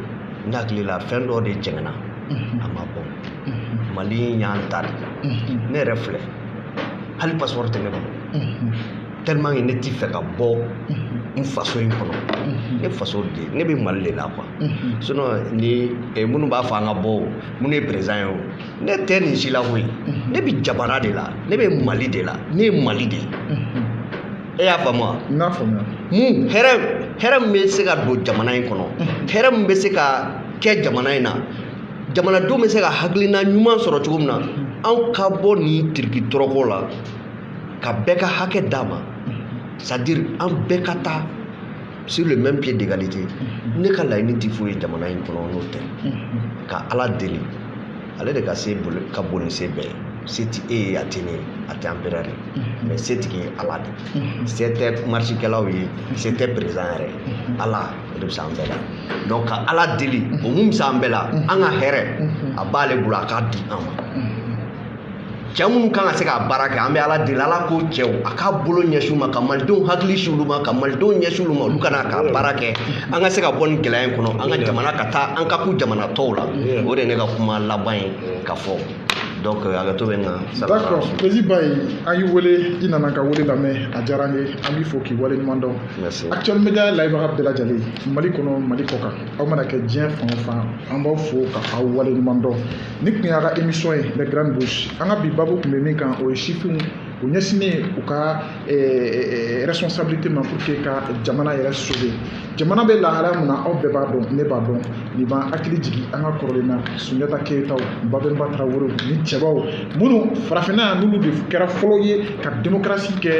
n hakili la fɛn dɔ de jɛngɛna a man bon mali y'an ta de ne yɛrɛ filɛ hali pasipɔri tɛ ne bolo tellement que ne t'i fɛ ka bɔ n faso in kɔnɔ ne faso de ne bɛ mali de la quoi sinon ni eh, minnu b'a fɔ an ka bɔ o minnu ye président ye o ne tɛ nin si la koyi ne bɛ jamana de la ne bɛ mali de la ne ye mali de ye e y'a faamu wa n y'a faamuya mun hɛrɛ hɛrɛ min bɛ se ka don jamana in kɔnɔ hɛrɛ min bɛ se ka kɛ jamana in na jamanadenw bɛ se ka hakilina ɲuman sɔrɔ cogo min na anw ka bɔ nin tiriki tɔrɔkɔ la ka bɛɛ ka hakɛ d'a ma c'est-à-dire an bɛɛ ka taa sur le même pied d'égalité ne ka laɲini tɛ foyi ye jamana in kɔnɔ n'o tɛ ka ala deli ale de ka se ka bon ni se bɛɛ ye se tɛ e ye a tɛ ne ye a tɛ empereur ye mais se tigi ye ala de se tɛ marisikɛlaw ye se tɛ président yɛrɛ ala o de bɛ se an bɛɛ la donc ka ala deli o mun bɛ se an bɛɛ la an ka hɛrɛ a b'ale bolo a k'a di an ma cɛ minnu kan ka se k'a baara kɛ an bɛ ala deli ala k'o cɛw a k'a bolo ɲɛsin u ma ka malidenw hakili sin olu ma ka malidenw ɲɛsin olu ma olu ka na k'a baara kɛ an ka se ka bɔ nin gɛlɛya in kɔnɔ an ka jamana ka taa an ka kun jamana tɔw la o de ye ne ka kuma laban ye ka fɔ donc euh, hakɛto bɛ n kan d'accord président Mbaye an y'i wele i nana ka wele lamɛn a diyara an ye an b'i fo k'i wale ɲuman dɔn actuel media lajɛbaga bɛɛ lajɛlen mali kɔnɔ mali kɔ kan aw mana kɛ diɲɛ fan o fan an b'aw fo ka aw wale ɲuman dɔn nin tun y'a ka émission ye les grandes bouches an ka bi babu tun bɛ min kan o ye sifinw u ɲɛsinnen u ka eh, eh, eh, responsabilité ma pour que ka jamana yɛrɛ sauver jamana bɛ lahalaya min na aw bɛɛ b'a dɔn ne b'a dɔn nin b'an hakili jigin an ka kɔrɔlen na sunjata keyitaw babɛnba tarawelew ni cɛbaw minnu farafinna yan n'olu de kɛra fɔlɔ ye ka démocratie kɛ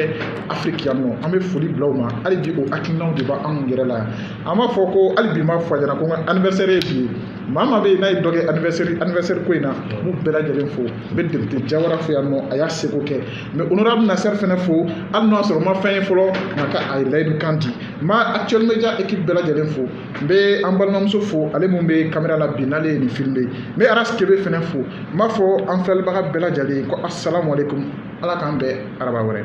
afiriki yan nɔ an bɛ foli bila u ma hali bi o hakilinaw de b'anw yɛrɛ la yan an b'a fɔ ko hali bi n b'a fɔ a ɲɛna ko n ka anniversaire ye bi ye maa maa bɛ yen n'a ye dɔ kɛ anniversaire anniversaire ko in na n b'u bɛɛ lajɛlen fo n bɛ député Jawara fo yan nɔ a y'a seko kɛ n bɛ honorable Nasser fɛnɛ fo hali n'o y'a sɔrɔ n ma fɛn ye fɔlɔ nka a ye layidu kan di n b'actuel media équipe bɛɛ lajɛlen fo n bɛ an balimamuso fo ale min bɛ caméra la bi n'ale ye nin filmé n bɛ Aras Kebe fɛnɛ fo n b'a fɔ an filɛlibaga bɛɛ lajɛlen ko asalamualeykum ala k'an bɛn araba wɛrɛ.